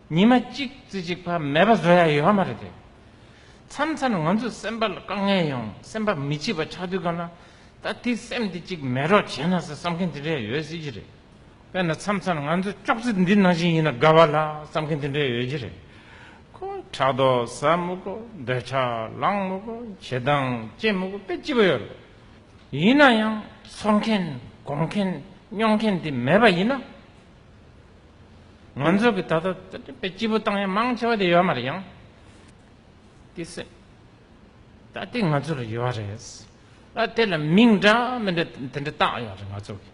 ཉི་མ་གཅིག་རྩི་གཅིག་བ་མེད་པ་བཟོ་ཡ་ཡོད་མ་རེད་དེ། མཚམས་མཚམས་ང་ཚོའི་སེམས་པ་ལ་དཀའ་ངལ་ཡོང་སེམས་པ་མི་སྐྱིད་པ་ཆགས་དུས་ག་ན་ད་དེའི་སེམས་དེ་གཅིག་མེད་རོགས་བྱས་ན་ཟེར་བསམ་མཁན་དེ་འདྲས་ཡོད་སྲིད་ཀྱི་རེད། དཔེར་ན་མཚམས་མཚམས་ང་ཚོ་ཅོག་ཙེ་འདི་ནང་བཞིན་ཡིན་ན་དགའ་བ་ལ་བསམ་མཁན་དེ་འདྲས་ཡོད་ཀྱི་རེད། ཕྲག་དོག་ཟ་མུ་གུ་འདོད་ཆགས་ལངས་མུ་གུ་བྱེད་སྟངས་སྐྱེ་མུ་གུ་དཔེ་ལྕི་པོ་ཡོད་རེད། ཡིན་ན་ཡང་ཚོར་མཁན་དགོངས་མཁན་སྨྱོ་མཁན་དེ་མེད་པ་ཡིན་ན། ང་ཚོ་གི་ད་ལྟ་དཔེ་ལྕི་པོ་བཏང་ཡ་མང་ཆེ་བ་དེ་ཡོད་མ་རེད་ཡང་དེ་སེམས་ད་དེ་ང་ཚོ་ལ་ཡོད་རེད་ད་དེ་ལ་མིང་འདྲ་མི་འདྲ་དེ་འདྲ་བཏགས་ཡོད་རེད་ང་ཚོ་གི།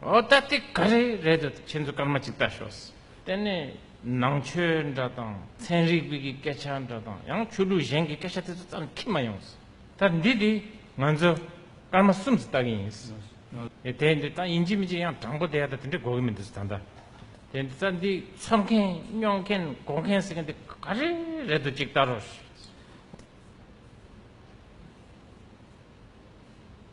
ཨོ་ད་དེ་ག་རེ་རེད་དོ་ཁྱེད་ཚོ་སྐར་མ་གཅིག་ལྟ་ཞོག་དེ་ནས་ནང་ཆོས་འདྲ་དང་ཚན་རིག་པའི་གི་སྐད་ཆ་འདྲ་དང་ཡང་ཆོས་ལུགས་གཞན་གི་སྐད་ཆ་དེ་ཚོ་རྩ་ནས་ཁྱེར་མ་ཡོང་ད་འདི་དེ་ང་ཚོ་སྐར་མ་གསུམ་ཙི་ལྟ་གི་ཡིན་ཨེ་དེ་འདི་ད་ཡིན་གཅིག་མིན་གཅིག་ཡང་དྲང་པོ་དེ་ད་དེ་འདྲ་གོ་གི་མི་འདུག་ད་ད་དེ་འདི་ད་འདི་འཚོ་མཁན་སྨྱོ་མཁན་འགོ་མཁན་ཟེར་མཁན་དེ་ག་རེ་རེད་དོ་གཅིག་ལྟ་རོགས།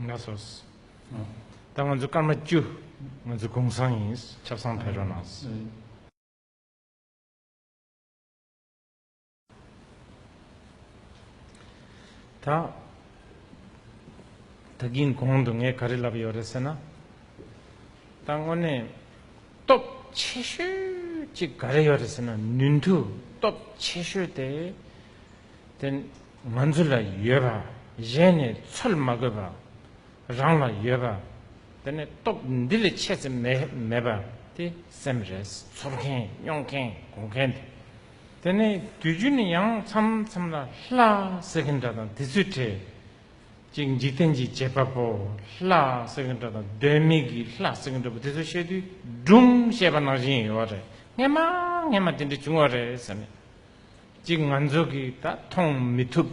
ང་སོགས་ད་ང་ཚོ་སྐར་མ་བཅུ་ང་ཚོ་གུང་སྲང་ཡིན་ཆབ་སྲང་བལ་རོ་ནང། ད་ད་གིན་གོང་དུ་ངས་ག་རེ་ལབ་ཡོད་རེད་ཟེར་ན། ད་དངོས་གནས་སྟོབས་ཆེ་ཤོས་ཅིག་ག་རེ་ཡོད་རེད་ཟེར་ན་ནུས་མཐུ་སྟོབས་ཆེ་ཤོས་དེ་དེ་ང་ཚོ་ལ་ཡོད་པ་གཞན་ནས་འཚོལ་མ་དགོས་པར་རང་ལ་ཡོད་པ་དེ་ནས་སྟོབས་འདི་ལས་ཆེ་ཚད་མེད་པ་དེ་སེམས་རེས་ཚོར་མཁན་སྙོག་མཁན་གོ་མཁན་དེ་དེ་ནས་དུས་རྒྱུན་ནས་ཡང་མཚམས་མཚམས་ལ་ལྷ་ཟེར་མཁན་འདྲ་དང་དེ་ཚོའི་གྲས་གཅིག་འཇིག་རྟེན་གྱི་བྱེད་པ་པོ་ལྷ་ཟེར་མཁན་འདྲ་དང་གདོད་མིག་གི་ལྷ་ཟེར་མཁན་འདྲ་པོ་དེ་ཚོ་བཤད་དུས་སྒྲུང་བཤད་པ་ནང་བཞིན་ཡོད་རེད་ངན་མ་ངན་མ་དེ་འདྲ་བྱུང་བ་རེད་ཟེར་ནས། གཅིག་ང་ཚོ་གིས་ད་མཐོང་མི་ཐུབ།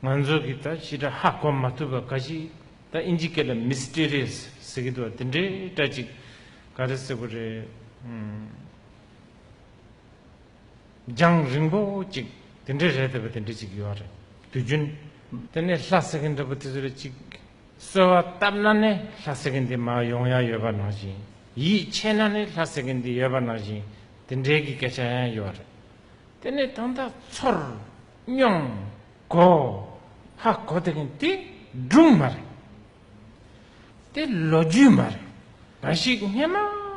ང་ཚོ་གིས་ད་ཕྱི་དྲ་ཧ་གོ་མ་ཐུབ་པ་འགའ་ཞིག་ད་ཨིན་ཇི་སྐད་ལ Mysterious ཟེར་གི་འདུག་བ་དེ་འདྲའི་སྒྲ་ཅིག་ག་རེ་ཟེར་བ་རེད། རྒྱང་རིང་པོ་ཅིག་དེ་འདྲའི་རེད་ཟེར་བ་དེ་འདྲ་ཅིག་ཡོད་རེད་དུས་རྒྱུན། དེ་ནས་ལྷ་ཟེར་གི་འདྲ་པོ་དེ་ཚོར་ཅིག་གསོལ་བ་བཏབ་ན་ནི་ལྷ་ཟེར་གི་འདི་མ་ཡོང་ཡ་ཡོད་པ་ནང་བཞིན་ཡིད་ཆེས་ན་ནི་ལྷ་ཟེར་གི་འདི་ཡོད་པ་ནང་བཞིན་དེ་འདྲའི་གི་སྐད་ཆ་ཡང་ཡོད་རེད། དེ་ནས་ད་ལྟ་ཚོར་སྙོམས། གོ། ཧ་གོ་དེ་གིན་དེ་སྒྲུང་མ་རེད། དེ་ལོ་རྒྱུས་མ་རེད། འབའ་ཞིག་སྔན་མ་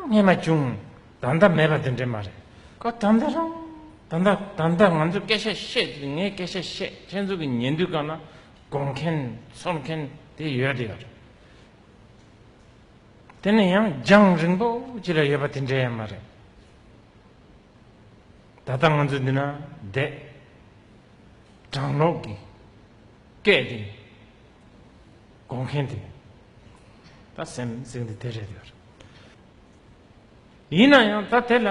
སྔན་མ་བྱུང། ད་ལྟ་མེད་པ་དེ་འདྲས་མ་རེད། གོ་ད་ལྟ་རང། ད་ལྟ་ད་ལྟ་ང་ཚོས་སྐད་ཆ་བཤད་དུས་ངས་སྐད་ཆ་བཤད་ཁྱེད་ཚོ་གི་ཉན་དུས་གང་ན་གོ་མཁན་ཚོར་མཁན་དེ་ཡོད་དེ་ཡོད་རེད། དེ་ནི་ཡང་རྒྱང་རིང་པོ་ཅིག་ལ་ཡོད་པ་དེ་འདྲ་ཡང་མ་རེད། ད་ལྟ་ང་ཚོ་འདི་ན་བསྡད། གྲང་ལོག་གི་སྐད་དེ་གོ་མཁན་དེ་ད་སེམས་གཟིགས་འདི་དེ་རེད་ཡོད་རེད། ཡིན་ན་ཡང་ད་དེ་ལ་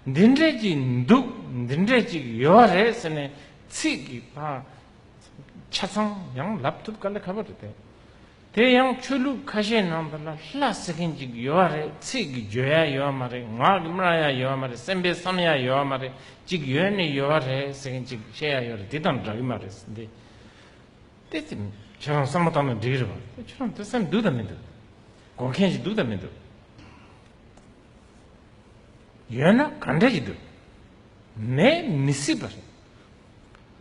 འདི་འདྲས་ཅིག་འདུག་འདི་འདྲས་ཅིག་ཡོད་རེད་ཟེར་ནས་ཚིག་གི་ཆ་ཚང་ཡང་ལབ་ཐུབ་ག་ལ་ཁ་བོ་རེད་དེ། དེ་ཡང་ཆོས་ལུགས་ཁ་ཤས་ནང་དུ་ལ་ལྷ་ཟེར་མཁན་ཅིག་ཡོད་བ་རེད་ཚིག་གི་བརྗོད་ཡ་ཡོད་བ་མ་རེད་ངག་གི་སྨྲ་ཡ་ཡོད་བ་མ་རེད་སེམས་པའི་བསམ་ཡ་ཡོད་བ་མ་རེད་ཅིག་ཡོད་ནི་ཡོད་བ་རེད་ཟེར་མཁན་ཅིག་བཤད་ཡ་ཡོད་རེད་དེ་དང་འདྲ་གི་མ་རེད་ཟེར་འདི་དེ་ཁྱེད་རང་བསམ་བློ་བཏང་ན་འགྲིག་གི་རེད་བ་ཁྱེད་རང་དེ་སེམས་འདུག་དང་མི་འདུག་གོ་མཁན་ཞིག་འདུག་དང་མི་འདུག་ཡོད་ན་ག་འདྲ་ཞིག་འདུག་མེད་མི་སྲིད་པ་རེད་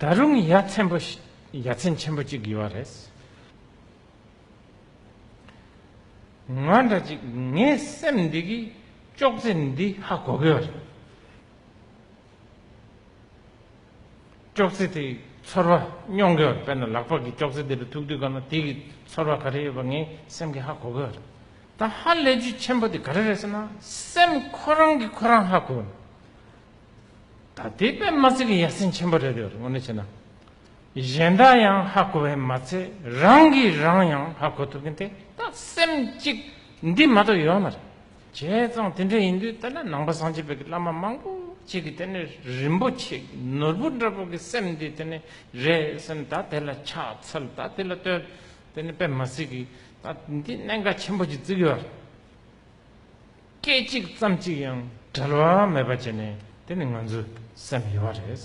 ད་རུང་ཡ་མཚན་པོ་ཡ་མཚན་ཆེན་པོ་ཅིག་ཡོད་བ་རེད། ང་འདྲ་ཅིག་ངའི་སེམས་འདི་གི་ཅོག་ཙེ་འདི་ཧ་གོ་གི་རེད། ཅོག་ཙེ་དེ་ཚོར་བ་སྙོང་གི་དཔེར་ན་ལག་པ་གི་ཅོག་ཙེ་དེ་རུ་ཐུག་དུས་གང་ན་དེ་གི་ཚོར་བ་ག་རེ་ཡོད་པ་ངའི་སེམས་ཀྱི་ཧ་གོ་གི་རེད། ད་ཧ་ལས་རྒྱུ་ཆེན་པོ་དེ་ག་རེ་རེད་ཟེར་ན། སེམས་ཁོ་རང་གི་ཁོ་རང་ཧ་གོ། ད་དེ་པད་མ་ཚེ་གི་ཡ་སེམས་ཆེན་པོ་རེད་དེ་ངོ་ནས་བྱས་ན། གཞན་དག་ཡང་ཧ་གོ་བས་མ་ཚད་རང་གིས་རང་ཡང་ཧ་གོ་ཐུབ་མཁན་དེ་ད་སེམས་གཅིག་འདི་མ་གཏོགས་ཡོད་མ་རེད། བྱས་ཙང་དེ་འདྲ་ཡིན་དུས་ད་ལྟ་ནང་པ་སངས་རྒྱས་པའི་བླ་མ་མང་པོ་ཅིག་གིས་དེ་ནི་རིན་པོ་ཆེ་གི་ནོར་བུ་འདྲ་པོ་གི་སེམས་འདི་དེ་ནི་རེད་སེམས་ད་དེ་ལ་ཕྱག་འཚལ་ད་དེ་ལ་བསྟོད་དེ་ནི་དཔེ་མ་ཟིག་གི་ད་འདི་གནད་འགག་ཆེན་པོ་ཅིག་བརྩིགས་ཡོད་རེད། སྐད་ཅིག་ཙམ་ཅིག་ཡང་བྲལ་བ་མེད་པ་བྱས་ནས་དེ་ནི་ང་ཚོའི་སེམས་ཡོད་རེད།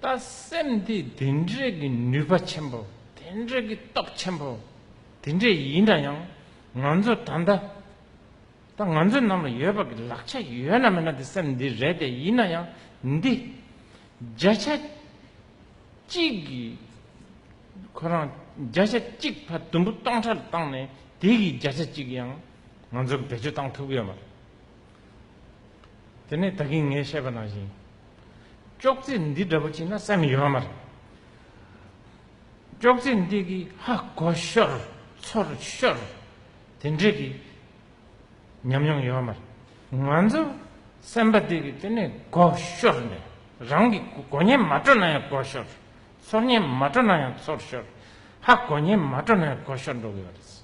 ལྟ་སེམས་དེ་དེ་འདྲའི་གི་ནུས་པ་ཆེན་པོ་དེ་འདྲའི་གི་སྟོབས་ཆེན་པོ་དེ་འདྲས་ཡིན་ན་ཡང་ང་ཚོ་ད་ལྟ་ད་ང་ཚོ་ནང་ལ་ཡོད་པ་གི་ལག་ཆ་ཡོད་ན་མེད་ན་དེ་སེམས་འདི་རེད་དེ་ཡིན་ན་ཡང་འདི་བརྒྱ་ཆ་གཅིག་གི་ཁོ་རང་བརྒྱ་ཆ་གཅིག་ཕ་དུམ་བུ་སྟོང་ཕྲག་བཏང་ནས་དེ་གི་བརྒྱ་ཆ་གཅིག་ཡང་ང་ཚོ་གི་བེད་སྤྱོད་བཏང་ཐུབ་ཀྱི་ཡོད་མ་རེད། དེ་ནས་ད་གིན་ངས་བཤད་པ་ནང་བཞིན། ཅོག་ཙེ་འདི་འདྲ་པོ་བྱིན་ན་སེམས་ཡོད་མ་རེད། ཅོག་ཙེ་འདི་གིས་ཧ་གོ་ཤོར་ཚོར་ཤོར་དེ་འདྲས་ཀྱི་ཉམས་མྱོང་ཡོད་མ་རེད། ང་ཚོ་སེམས་པ་འདི་གིས་དེ་ནས་གོ་ཤོར་ནས་རང་གི་གོ་ཉན་མ་སྤྲོ་ན་ཡང་གོ་ཤོར། ཚོར་ཉན་མ་སྤྲོ་ན་ཡང་ཚོར་ཤོར། ཧ་གོ་ཉན་མ་སྤྲོ་ན་ཡང་གོ་ཤོར་འགྲོ་གི་ཡོད་རེད།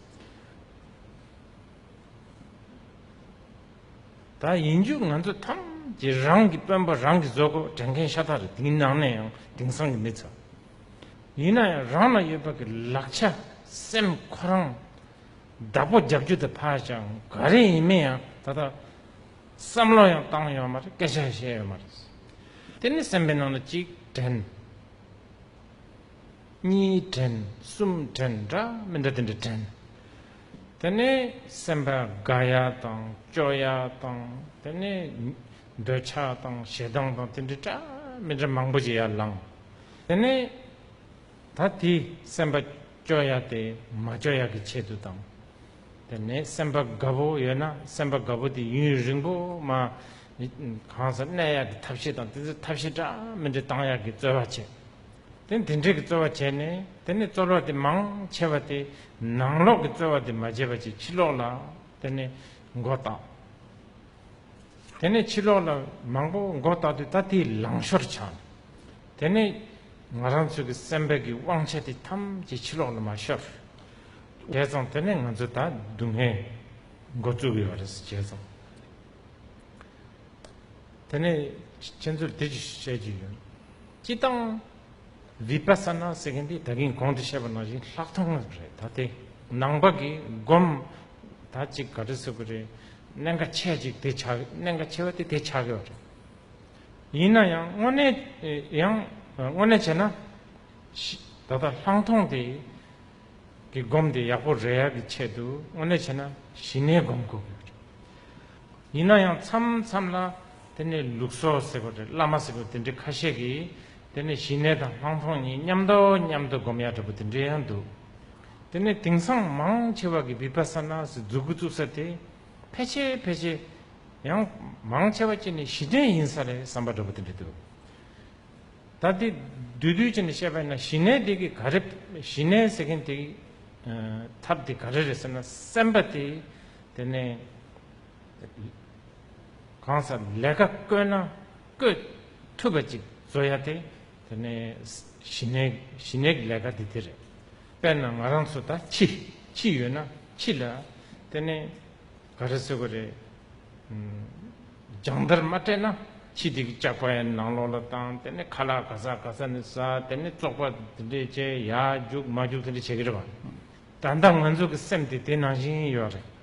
ད་ཡིན་རྒྱུ་ང་ཚོ་ཐམས་ཅད་རང་གི་དཔོན་པོ་རང་གི་བཟོ་བཀོད་དྲན་མཁན་ཤ་སྟག་རེད་དེའི་ནང་ནས་ཡང་དེང་སང་གི་མི་ཚོ། ཡིན་ན་ཡང་རང་ལ་ཡོད་པ་གི་ལག་ཆ་སེམས་ཁོ་རང་བདག་པོ་རྒྱབ་རྒྱུ་དེ་ཕར་བཞག་ག་རེ་ཡིན་མིན་ཡང་ད་ལྟ་བསམ་བློ་ཡང་བཏང་ཡོད་མ་རེད་སྐད་ཆ་ཡང་བཤད་ཡོད་མ་རེད། དེ་ནི་སེམས་པའི་ནང་ལ་གཅིག་དྲན། གཉིས་དྲན་གསུམ་དྲན་འདྲ་མི་འདྲ་དེ་འདྲ་དྲན། དེ་ནས་སེམས་དཔའ་དགའ་ཡ་དང་སྐྱོ་ཡ་དང་དེ་ནས་འདོད་ཆགས་དང་ཞེ་སྡང་དང་དེ་འདྲའི་དྲ་མི་དྲ་མང་པོ་ཞིག་ཡར་ལངས། དེ་ནས་ད་དེ་སེམས་པ་སྐྱོ་ཡ་དེ་མ་སྐྱོ་ཡ་གི་ཆེད་དུ་དང། དེ་ནས་སེམས་པ་དགའ་བོ་ཡོད་ན་སེམས་པ་དགའ་བོ་དེ་ཡུན་རིང་པོ་མ་གང་སར་གནས་ཡ་གི་ཐབས་ཤེས་དང་དེ་ཚོའི་ཐབས་ཤེས་དྲ་མི་དྲ་བཏང་ཡ་གི་རྩོལ་བ་བྱེད། དེ་ནས་དེ་འདྲའི་གི་རྩོལ་བ་བྱས་ནས་དེ་ནས་རྩོལ་བ་དེ་མང་ཆེ་བ་དེ་ནང་ལོག་གི་རྩོལ་བ་དེ་མ་བྱས་པ་ཅིག་ཕྱི་ལོག་ལ་དེ་ནས་མགོ་བཏགས། དེ་ནས་ཕྱི་ལོག་ལ་མང་པོ་མགོ་བཏགས་ཏེ་ད་དེའི་ལང་ཤོར་བྱང། དེ་ནས་ང་རང་ཚོ་གི་སེམས་པ་གི་དབང་ཆ་དེ་ཐམས་ཅད་ཕྱི་ལོག་ལ་མ་ཤོར། བྱས་ཙང་དེ་ནས་ང་ཚོ་ད་སྡུག་བསྔལ་མགོ་བཙུགས་ཡོད་རེད་བྱས་ཙང། དེ་ནས་ཁྱེད་ཚོར་དེ་བཞིན་བཤད་ཀྱི་ཡོད། སྤྱི་བཏང། Vipassana ཟེར་མཁན་དེ་ད་གིན་གོང་དུ་བཤད་པ་ནང་བཞིན་ལྷག་མཐོང་རེད་ད་དེ་ནང་པ་གིས་སྒོམ་ད་ཅིག་ག་རེ་ཟེར་གི་རེད་གནད་འགའ་ཆེ་ཅིག་དེ་ཆགས་གནད་འགའ་ཆེ་བ་དེ་དེ་ཆགས་ཀྱི་བ་རེད། ཡིན་ན་ཡང་དངོས་གནས་ཡང་དངོས་གནས་བྱས་ན་ད་ལྟ་ལྷག་མཐོང་དེ་གི་སྒོམ་དེ་ཡག་པོ་རེད་ཡ་གི་ཆེད་དུ་དངོས་གནས་བྱས་ན་ཞི་གནས་སྒོམ་དགོས་གི་རེད། ཡིན་ན་ཡང་མཚམས་མཚམས་ལ། དེ་ནི་ལུགས་སོ་ཟེར་བ་རེད་བླ་མ་ཟེར་བ་དེ་འདྲའི་ཁ་ཤས་ཀྱིས་དེ་ནི་ཞི་གནས་དང་སྣང་སྟོང་གཉིས་མཉམ་དོ་སྙམ་དུ་སྒོམ་ཡ་འདྲ་པོ་དེ་འདྲའི་ཡང་འདུག་དེ་ནི་དེང་སང་མང་ཆེ་བ་གི་བི་པ་ས་ན་སི་འཛུགས་དགོས་བཙུགས་ས་དེ་ཕལ་ཆེ་ཕལ་ཆེ་ཡང་མང་ཆེ་བ་ཅི་ནི་ཞི་གནས་ཡིན་ས་རེད་བསམ་པ་འདྲ་པོ་དེ་འདྲ་འདུག་ད་དེ་འདུས་འདུས་ཅི་ནི་བཤད་པ་ཡིན་ན་ཞི་གནས་དེ་གི་ག་རེ་ཞི་གནས་ཟེར་མཁན་དེ་ཐབས་དེ་ག་རེ་རེད་ཟེར་ན་སེམས་པ་དེ་དེ་ནི། གང་སར་ལས་ཀ་བསྐོས་ན་བསྐོས་ཐུབ་པ་ཅིག་བཟོ་ཡ་དེ། དེ་ནི་ཞི་གནས་ཞི་གནས་ཀྱི་ལས་ཀ་དེ་དེ་རེད། དཔེར་ན་ང་རང་ཚོ་ད་ཕྱི་ཕྱི་ཡོད་ན་ཕྱི་ལ། དེ་ནི་ག་རེ་བཟོས་གི་རེད། སྦྱང་བརྡར་མ་སྤྲད་ན་ཕྱི་དེ་གི་ལྕགས་པའི་ནང་ལོགས་ལ་བཏང་དེ་ནི་ཁ་ལག་ག་ས་ག་ས་ནས་ཟ་དེ་ནི་བཙོག་པ་དེ་འདྲས་བྱས་ཡ་རྒྱུགས་མ་རྒྱུགས་དེ་འདྲས་བྱེད་ཀྱི་རེད་བ། ད་ལྟ་ང་ཚོ་གི་སེམས་དེ་དེ་ནང་བཞིན་ཡོད་རེད།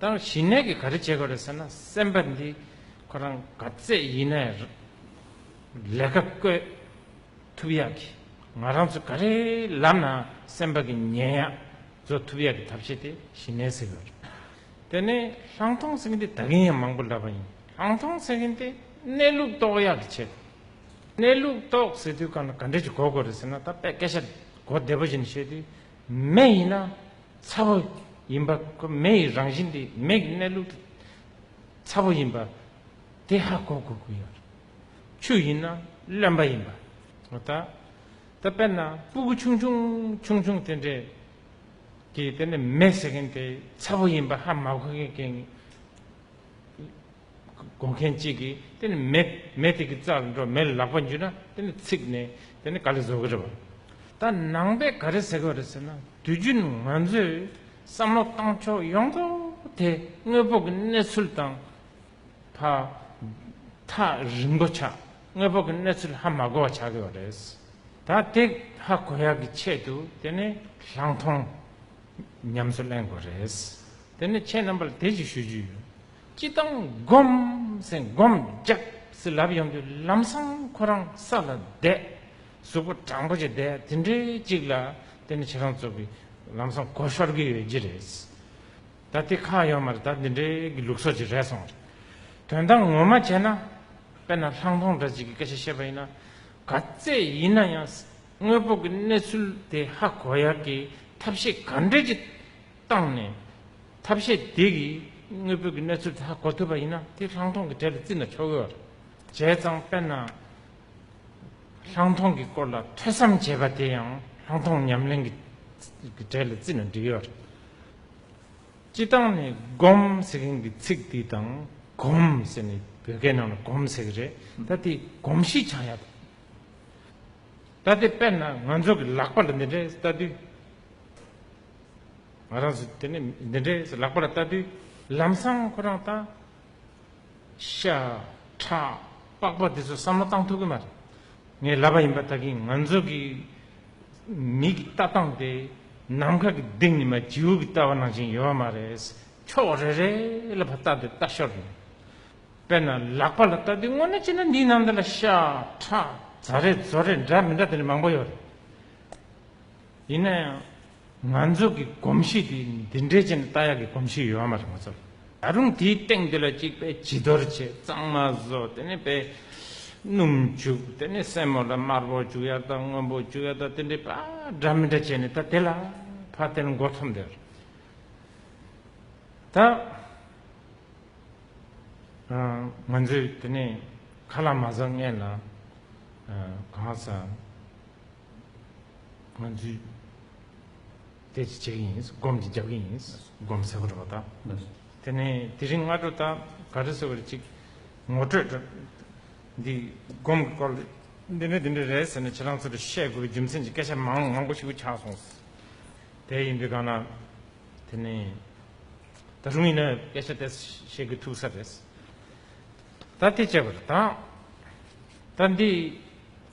ད་ཞི་གནས་ཀྱི་ག་རེ་བྱེད་དགོས་རེད་ཟེར་ན་སེམས་པ་འདི་ཁོ་རང་ག་ཚད་ཡིན་ནའི་ལས་ཀ་བཀོད་ཐུབ་ཡག་གི་ང་རང་ཚོ་ག་རེའི་ལམ་ནའང་སེམས་པ་གི་ཉལ་ཡག་བཟོ་ཐུབ་ཡག་གི་ཐབས་ཤེས་དེ་ཞི་གནས་ཟེར་གི་རེད། དེ་ནས་ལྷང་ཐོང་ཟེར་གི་འདི་ད་གིན་ཡང་མང་པོ་ལབ་པ་ཡིན་ལྷང་ཐོང་ཟེར་གི་འདི་གནས་ལུགས་རྟོགས་ཡག་གི་བྱེད་དགོས་གནས་ལུགས་རྟོགས་ཟེར་དུས་ག་འདྲ་གི་གོ་དགོས་རེད་ཟེར་ན་ད་དཔེ་སྐད་ཆ་གོ་བདེ་པོ་བཞིན་བཤད་དུས་མེད་ཡིན་ན་ཚ་བོ་ཡིན་པ། མེ་ཡི་རང་བཞིན་དེ་མེ་གི་གནས་ལུགས་དེ་ཚ་བོ་ཡིན་པ། དེ་ཧ་གོ་དགོས་ཀྱི་ཡོད་རེད། ཆུ་ཡིན་ན་རློན་པ་ཡིན་པ། ད་དཔེར་ན་སྤུ་གུ་ཆུང་ཆུང་ཆུང་ཆུང་དེ་འདྲས་ཀྱིས་དེ་ནས་མེ་ཟེར་མཁན་དེ་ཚ་བོ་ཡིན་པ་ཧ་མ་གོ་མཁན་བསྒོ་མཁན་གཅིག་གིས་དེ་ནི་མེད་མེད་དེ་གི་རྩར་འགྲོ་མེད་ལ་ལག་པ་འཇུས་ན་དེ་ནི་ཚིག་ནི་དེ་ནི་ག་ལས་བཟོ་གི་རེད་བ། ད་ནང་པས་ག་རེ་ཟེར་གི་རེད་ཟེར་ན་དུས་རྒྱུན་ང་ཚོས་བསམ་བློ་བཏང་ཕྱོགས་ཡོངས་རྫོགས་དེ་དངོས་པོ་གི་གནས་ཚུལ་དང་ཕ་མཐའ་རིང་པོ་ཆ་དངོས་པོ་གི་གནས་ཚུལ་ཧ་མ་གོ་བ་ཆགས་ཀྱི་ཡོད་རེད། ད་དེ་ཧ་གོ་ཡག་གི་ཆེད་དུ་དེ་ནི་ལྷག་མཐོང་ཉམས་སུ་གླེང་དགོས་རེད། དེ་ནི་ཁྱེད་རྣམ་པ་ལ་དེ་གཅིག་ཞུ་རྒྱུ་ཡོད། སྤྱི་བཏང་བསྒོམ་ཟིན་བསྒོམ་བརྒྱབ་ཟིན་ལབ་ཡོང་དུས་ལམ་སང་ཁོ་རང་ས་ལ་བསྡད། གཟུགས་པོ་སྦྲང་པོ་ཅིག་བསྡད་དེ་འདྲའི་ཅིག་ལ་དེ་ནི་ཁྱེད་རང་ཚོ་གི་ལམ་སང་སྒོ་ཤོར་གི་ཡོད་ཀྱི་རེད། ད་དེ་ཁ་ཡོད་མར་ད་འདི་འདྲའི་གི་ལུགས་སྲོག་ཅིག་རེད་སོང། དོན་དག་ངོ་མ་བྱས་ན་དཔེར་ན་ལྷང་ཐོང་འདྲ་ཅིག་གི་སྐད་ཆ་བཤད་པ་ཡིན་ན་ག་ཚད་ཡིན་ན་ཡང་དངོས་པོ་གི་གནས་ཚུལ་དེ་ཧ་གོ་ཡག་གི་ཐབས་ཤེས་ག་འདྲས་ཀྱི་བཏང་ནས་ཐབས་ཤེས་དེ་གིས་དངོས་པོའི་གི་གནས་ཚུལ་དག་གོ་ཐུབ་པ་ཡིན་ན་དེ་ལྷག་མཐོང་གི་གྲལ་དུ་བརྩི་ན་ཆོག་གི། བྱས་ཙང་དཔེར་ན། ལྷག་མཐོང་གི་སྐོར་ལ་ཐོས་བསམ་བྱེད་པ་དེ་ཡང་ལྷག་མཐོང་ཉམས་ལེན་གི་གྲལ་ལ་བརྩི་ན་འགྲིག་གི། སྤྱི་བཏང་ནས་སྒོམ་ཟེར་མཁན་གྱི་ཚིག་འདི་དང་གོམ་ཟེར་ནས་བོད་སྐད་ནང་ལ་གོམ་ཟེར་གི་རེད་ད་དེ་གོམ་གཤིས་ཆགས་ཡག་ཐུབ། ད་དེ་དཔེར་ན་ང་ཚོ་གི་ལག་པ་ལ་འདི་འདྲའི་ལྟ་དུས། ང་རང་ཚོ་དེ་ནས་འདི་འདྲའི་ལག་པ་ལ་ལྟ་དུས་ལམ་སང་ཁོ་རང་ལྟ་ཤ་ཁྲག་པགས་པ་དེ་ཚོ་བསམ་བློ་བཏང་ཐུབ་གི་མ་རེད། ངས་ལབ་པ་ཡིན་པ་ལྟ་གིན་ང་ཚོ་གི་མིག་གི་ལྟ་སྟངས་དེ་ནམ་མཁའ་གི་ལྡིང་ནི་མ་བྱིའུ་གི་ལྟ་བ་ནང་བཞིན་ཡོད་མ་རེད། ཕྱོགས་རེ་རེ་ལ་བ་ལྟ་དུས་ལྟ་ཤོར་ཡོད། དཔེར་ན་ལག་པ་ལ་ལྟ་དུས་དངོས་གནས་བྱས་ན་འདིའི་ནང་དེ་ལ་ཤ་ཁྲག་རྫ་རེ་རྫོ་རེ་འདྲ་མི་འདྲ་དེ་འདྲ་མང་པོ་ཡོད་རེད། ཡིན་ན་ཡང་ང་ཚོ་གི་གོམས་གཤིས་དེ་འདི་འདྲའི་ཅན་རྟ་གཡག་གི་གོམས་གཤིས་ཡོད་མ་རེད་ང་ཚོར། ད་རུང་དེའི་སྟེང་དེ་ལ་གཅིག་པས་བྱི་དོར་བྱེད་གཙང་མ་བཟོ་དེ་ནས་པས་སྣུམ་བྱུག་དེ་ནས་སྲན་མོ་ལ་དམར་པོ་བྱུག་ཡར་དང་སྔོན་པོ་བྱུག་ཡར་དང་དེ་འདྲའི་པ་འདྲ་མི་འདྲ་བྱས་ནས་ད་དེ་ལ་ཕ་དེ་ལ་འགོ་ཚོམ་དེར་ད་ང་ཚོས་དེ་ནས་ཁ་ལ་མ་བཟང་ངན་ལ་གང་བཟང། སྔོན་ཚུལ། དེ་ཅི་བྱེད་ཀྱི་ཡིན། སྒོམ་གྱི་རྒྱབ་ཀྱི་ཡིན། སྒོམ་ཟེར་བ་འགྲོ་བ་དག། དེ་ནས་དེ་རིང་སྔ་དྲོ་དག་ག་རེ་ཟེར་བ་རེ་གཅིག་ངོ་སྤྲོད་དྲ། འདི་སྒོམ་གྱི་སྐོར། འདི་འདྲ་འདི་འདྲ་རེད་ཟེར་ནས་ཁྱེད་རང་ཚོ་ལ་བཤད་དགོས་པའི་རྒྱུ་མཚན་གྱི་སྐད་ཆ་མང་མང་པོ་ཞིག་གུ་ཆགས་སོང། དེ་ཡིན་དུས་གང་ན། དེ་ནས་ད་རུང་ཡིན་ན་སྐད་ཆ་དེ་བཤད་དགོས་ཐུག་ས་རེད། ད་དེ་བྱས་པ་རེད་དག། ད་འདི་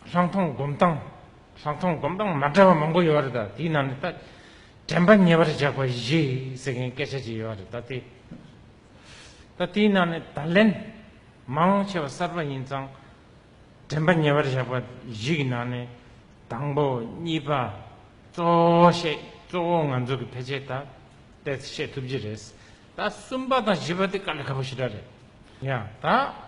ལྷག་མཐོང་སྒོམ་སྟངས་ལྷག་མཐོང་སྒོམ་སྟངས་མ་འདྲ་བ་མང་པོ་ཡོད་རེད་ད་དེའི་ནང་ནས་ད་དྲན་པ་ཉེ་བར་བཞག་པ་བཞི་ཟེར་མཁན་སྐད་ཆ་ཅིག་ཡོད་རེད་ད་དེ་ད་དེའི་ནང་ནས་ད་ལན་མང་ཆེ་བ་གསར་པ་ཡིན་ཙང་དྲན་པ་ཉེ་བར་བཞག་པ་བཞི་གི་ནང་ནས་དང་པོ་གཉིས་པ་གཙོ་བོ་བཤད་གཙོ་བོ་ང་ཚོ་གི་ཕལ་ཆེར་ད་ལྟའི་ཚེ་བཤད་ཐུབ་ཀྱི་རེད་ད་གསུམ་པ་དང་བཞི་པ་དེ་དཀའ་ལས་ཁ་པོ་ཞེ་དྲག་རེད་ཡ་ད།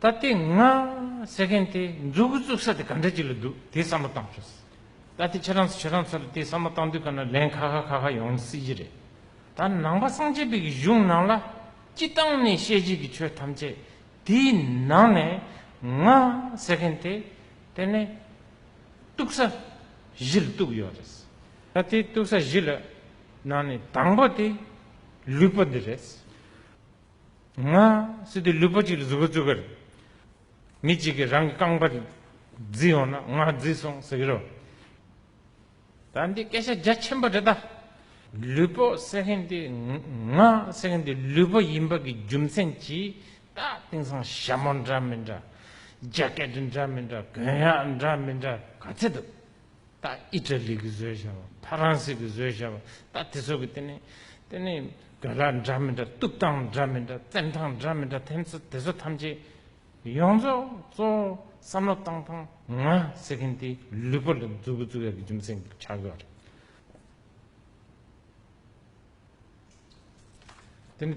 ད་ལྟའི་ང་ཟེར་མཁན་དེ་འཛུགས་གི་བཙུགས་ས་དེ་ག་འདྲ་ཅིག་ལ་འདུག་དེ་བསམ་བློ་བཏང་ཆོག་སྲིད། ད་ལྟའི་ཁྱེད་རང་ཚོ་ཁྱེད་རང་ཚོ་ལ་དེ་བསམ་བློ་བཏང་དུས་ག་ནང་ལན་ཁ་ཁ་ཁ་ཁ་ཡོང་སྲིད་ཀྱི་རེད། ད་ནང་པ་སངས་རྒྱས་པའི་གི་གཞུང་ནང་ལ་སྤྱི་བཏང་ནས་བཤད་རྒྱུ་གི་ཆོས་ཐམས་ཅད་དེའི་ནང་ནས་ང་ཟེར་མཁན་དེ་དེ་ནས་གཏུགས་ས་གཞི་ལ་གཏུགས་ཡོད་རེད། ད་ལྟའི་གཏུགས་ས་གཞི་ལ་ནང་ནས་དང་པོ་དེ་ལུས་པོ་འདི་རེད། ང། སི་ཏུ་ལུས་པོ་གཅིག་ལ་གཟུགས་པོ་བཙུགས་ཀར། མི་གཅིག་གིས་རང་གི་རྐང་པ་བརྫིས་ཡོང་ན་ང་བརྫིས་སོང་ཟེར་གྱི་རོ། ད་འདི་སྐད་ཆ་རྒྱ་ཆེན་པོ་རེད་ད། ལུས་པོ་ཟེར་མཁན་དེ་ང་ཟེར་མཁན་དེ་ལུས་པོ་ཡིན་པ་གི་རྒྱུ་མཚན་གྱིས་ད་དེང་སང་ཞྭ་མོ་འདྲ་མི་འདྲ། རྒྱ་སྐད་དུ་འདྲ་མི་འདྲ་གོན་ཡག་འདྲ་མི་འདྲ་ག་ཚད་འདུག། ད་ཨི་ཏྲ་ལི་གི་བཟོས་ཤ་བ་ཕ་རང་སི་གི་བཟོས་ཤ་བ་ད་དེ་ཚོ་གི་དེ་ནི་དེ་ནི་དགྲ་ལ་འདྲ་མི་འདྲ་གཏུབ་སྟངས་འདྲ་མི་འདྲ་བཙན་ཐང་འདྲ་མི་འདྲ་དེ་ཚོ་དེ་ཚོ་ཐམས་ཅད་ཡོངས་རྫོགས་གཙོ་བོ་བསམ་བློ་བཏང་ཐང་ང་ཟེར་མཁན་དེ་ལུས་པོ་ལ་འཛུལ་བུ་འཛུལ་ཡག་གི་རྒྱུ་མཚན་གི་ཆགས་ཡོད་རེད། དེ་ནི་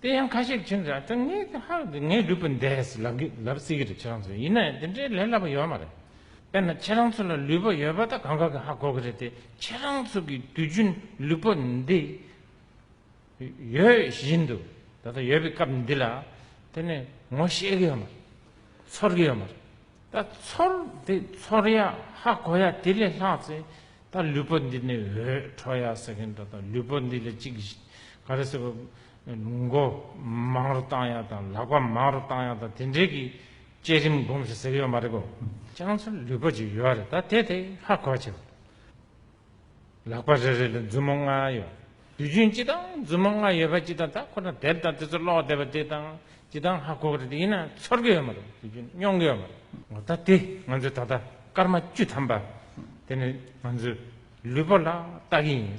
དེ་ཡང་ཁ་ཤས་ཁྱེད་ཅག་ངའི་ཧ་ཧ་ཀྱི་ངའི་ལུས་པོ་འདས་ལབ་སྲིད་ཀྱི་རེད་ཁྱེད་རང་ཚོས་ཡིན་ནའི་དེ་འདྲའི་ལས་སླ་པོ་ཡོད་མ་རེད། དཔེར་ན་ཁྱེད་རང་ཚོ་ལ་ལུས་པོ་ཡོད་པ་དང་གང་ག་གི་ཧ་གོ་གི་རེད་དེ་ཁྱེད་རང་ཚོ་གི་དུས་རྒྱུན་ལུས་པོ་འདི་ཡོད་བཞིན་དུ་ད་ལྟ་ཡོད་པའི་སྐབས་འདི་ལ་དེ་ནི་ངོ་ཤེས་ཀྱི་ཡོད་མ་རེད། ཚོར་གྱི་ཡོད་མ་རེད། ད་ཚོར་འདི་ཚོར་ཡ་ཧ་གོ་ཡ་དེ་ལས་ལྷག་ཚེ་ད་ལུས་པོ་འདི་ནས་འོད་འཕྲོ་ཡ་ཟེར་གིན་འགྲོ་ད་ལུས་པོ་འདི་ལས་ཅིག་ག་རེ་ཟེར་བ་མགོ་མང་རུ་བཏང་ཡ་དང་ལག་པ་མང་རུ་བཏང་ཡ་དང་དེ་འདྲའི་གི་བསྐྱེད་རིམ་སྒོམ་ཞིག་ཟེར་གི་ཡོད་མ་རེད་གོ། སྤྱང་ཚོར་ལུས་པོ་ཅིག་ཡོད་རེད་ད་དེ་དེ་ཧ་གོ་བྱས་པ། ལག་པ་རེ་རེ་ལ་མཛུབ་མོ་ལྔ་ཡོད། དུས་རྒྱུན་སྤྱི་དང་མཛུབ་མོ་ལྔ་ཡོད་པ་སྤྱི་དང་ད་ཁོ་ན་དེབ་དང་དེ་ཚོ་ཀློག་བསྡད་པ་དེ་དང་སྤྱི་དང་ཧ་གོ་གི་ཡིན་ན་ཚོར་གི་ཡོད་མ་རེད་དུས་རྒྱུན་སྙོང་གི་ཡོད་མ་རེད། ངོ་ད་དེ་ང་ཚོས་ད་ལྟ་སྐར་མ་བཅུ་ཐམ་པ་དེ་ནི་ང་ཚོའི་ལུས་པོ་ལ་བལྟ་གི་ཡིན།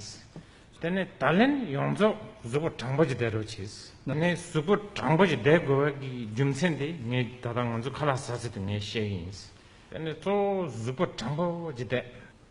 དེ་ནི་ད་ལན་ཡོངས་རྫོགས་གཟུགས་པོ་དྲང་པོ་ཅིག་བསྡད་རོགས་བྱས། ད་ནི་གཟུགས་པོ་དྲང་པོ་ཅིག་བསྡད་དགོས་པ་གི་རྒྱུ་མཚན་དེ་ངས་ད་ལྟ་ང་ཚོ་ཁ་ལག་ཟ་ཟི་དུ་ངས་བཤད་གི་ཡིན། དེ་ནི་གཙོ་བོ་གཟུགས་པོ་དྲང་པོ་ཅིག་བསྡད།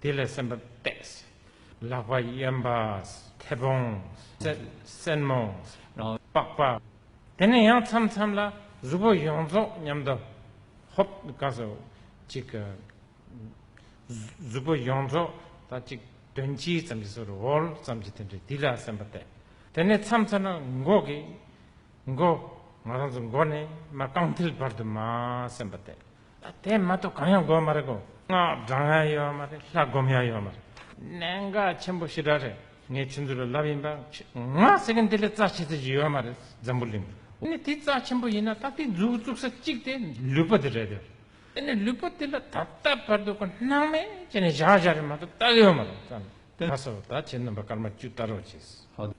དེ་ལས་སེམས་པ་གཏད། ལག་པ་གཡོན་པ། མཐེ་བོང། སེན་མོ། པགས་པ། དེ་ནས་ཡང་མཚམས་མཚམས་ལ་གཟུགས་པོ་ཡོངས་རྫོགས་མཉམ་དུ་ཧོབ། གང་ཟག་གཅིག་གི་གཟུགས་པོ་ཡོངས་རྫོགས་དང་གཅིག་དོན་གཅིག་ཙམ་གྱི་སོར་འོལ་ཙམ་གྱི་དོན་དུ་དེ་ལ་སེམས་པ་གཏད། དེ་ནས་མཚམས་མཚམས་ལ་མགོ་གི་མགོ། ང་རང་ཚོའི་མགོ་ནས་མ་རྐང་མཐིལ་བར་དུ་མ་སེམས་པ་གཏད། ད་དེ་མ་གཏོགས་གང་ཡང་དགོས་མ་རེད་གོ། སྔགས་བགྲང་ཡ་ཡོད་མ་རེད་ལྷ་སྒོམ་ཡ་ཡོད་མ་རེད། གནད་འགག་ཆེན་པོ་ཞེ་དྲག་རེད། ངས་ཁྱེད་ཚོ་ལ་ལབ་ཡིན་པ། སྔགས་ཟེར་མཁན་དེ་ལས་རྩ་ཆེ་ཚད་ཅིག་ཡོད་མ་རེད་འཛམ་བུ་གླིང་དུ། དེ་ནས་དེ་རྩ་ཆེན་པོ་ཡིན་ན་ད་དེ་མཛུག་བཙུགས་ས་གཅིག་དེ་ལུས་པོ་དེ་རེད་དེ། དེ་ནས་ལུས་པོ་དེ་ལ་ད་ལྟ་བར་དུ་གོ་སྣང་མེད་ཅེས་ནས་བཞག་བཞག་རེད་མ་གཏོགས་ད་ཡོད་མ་རེད་བསམ་ནས་དེ་ལྷ་ས་བ་ད་ཁྱེད་རྣམ་པ་སྐར་མ་བཅུ་ལྟ་རོགས་བྱས།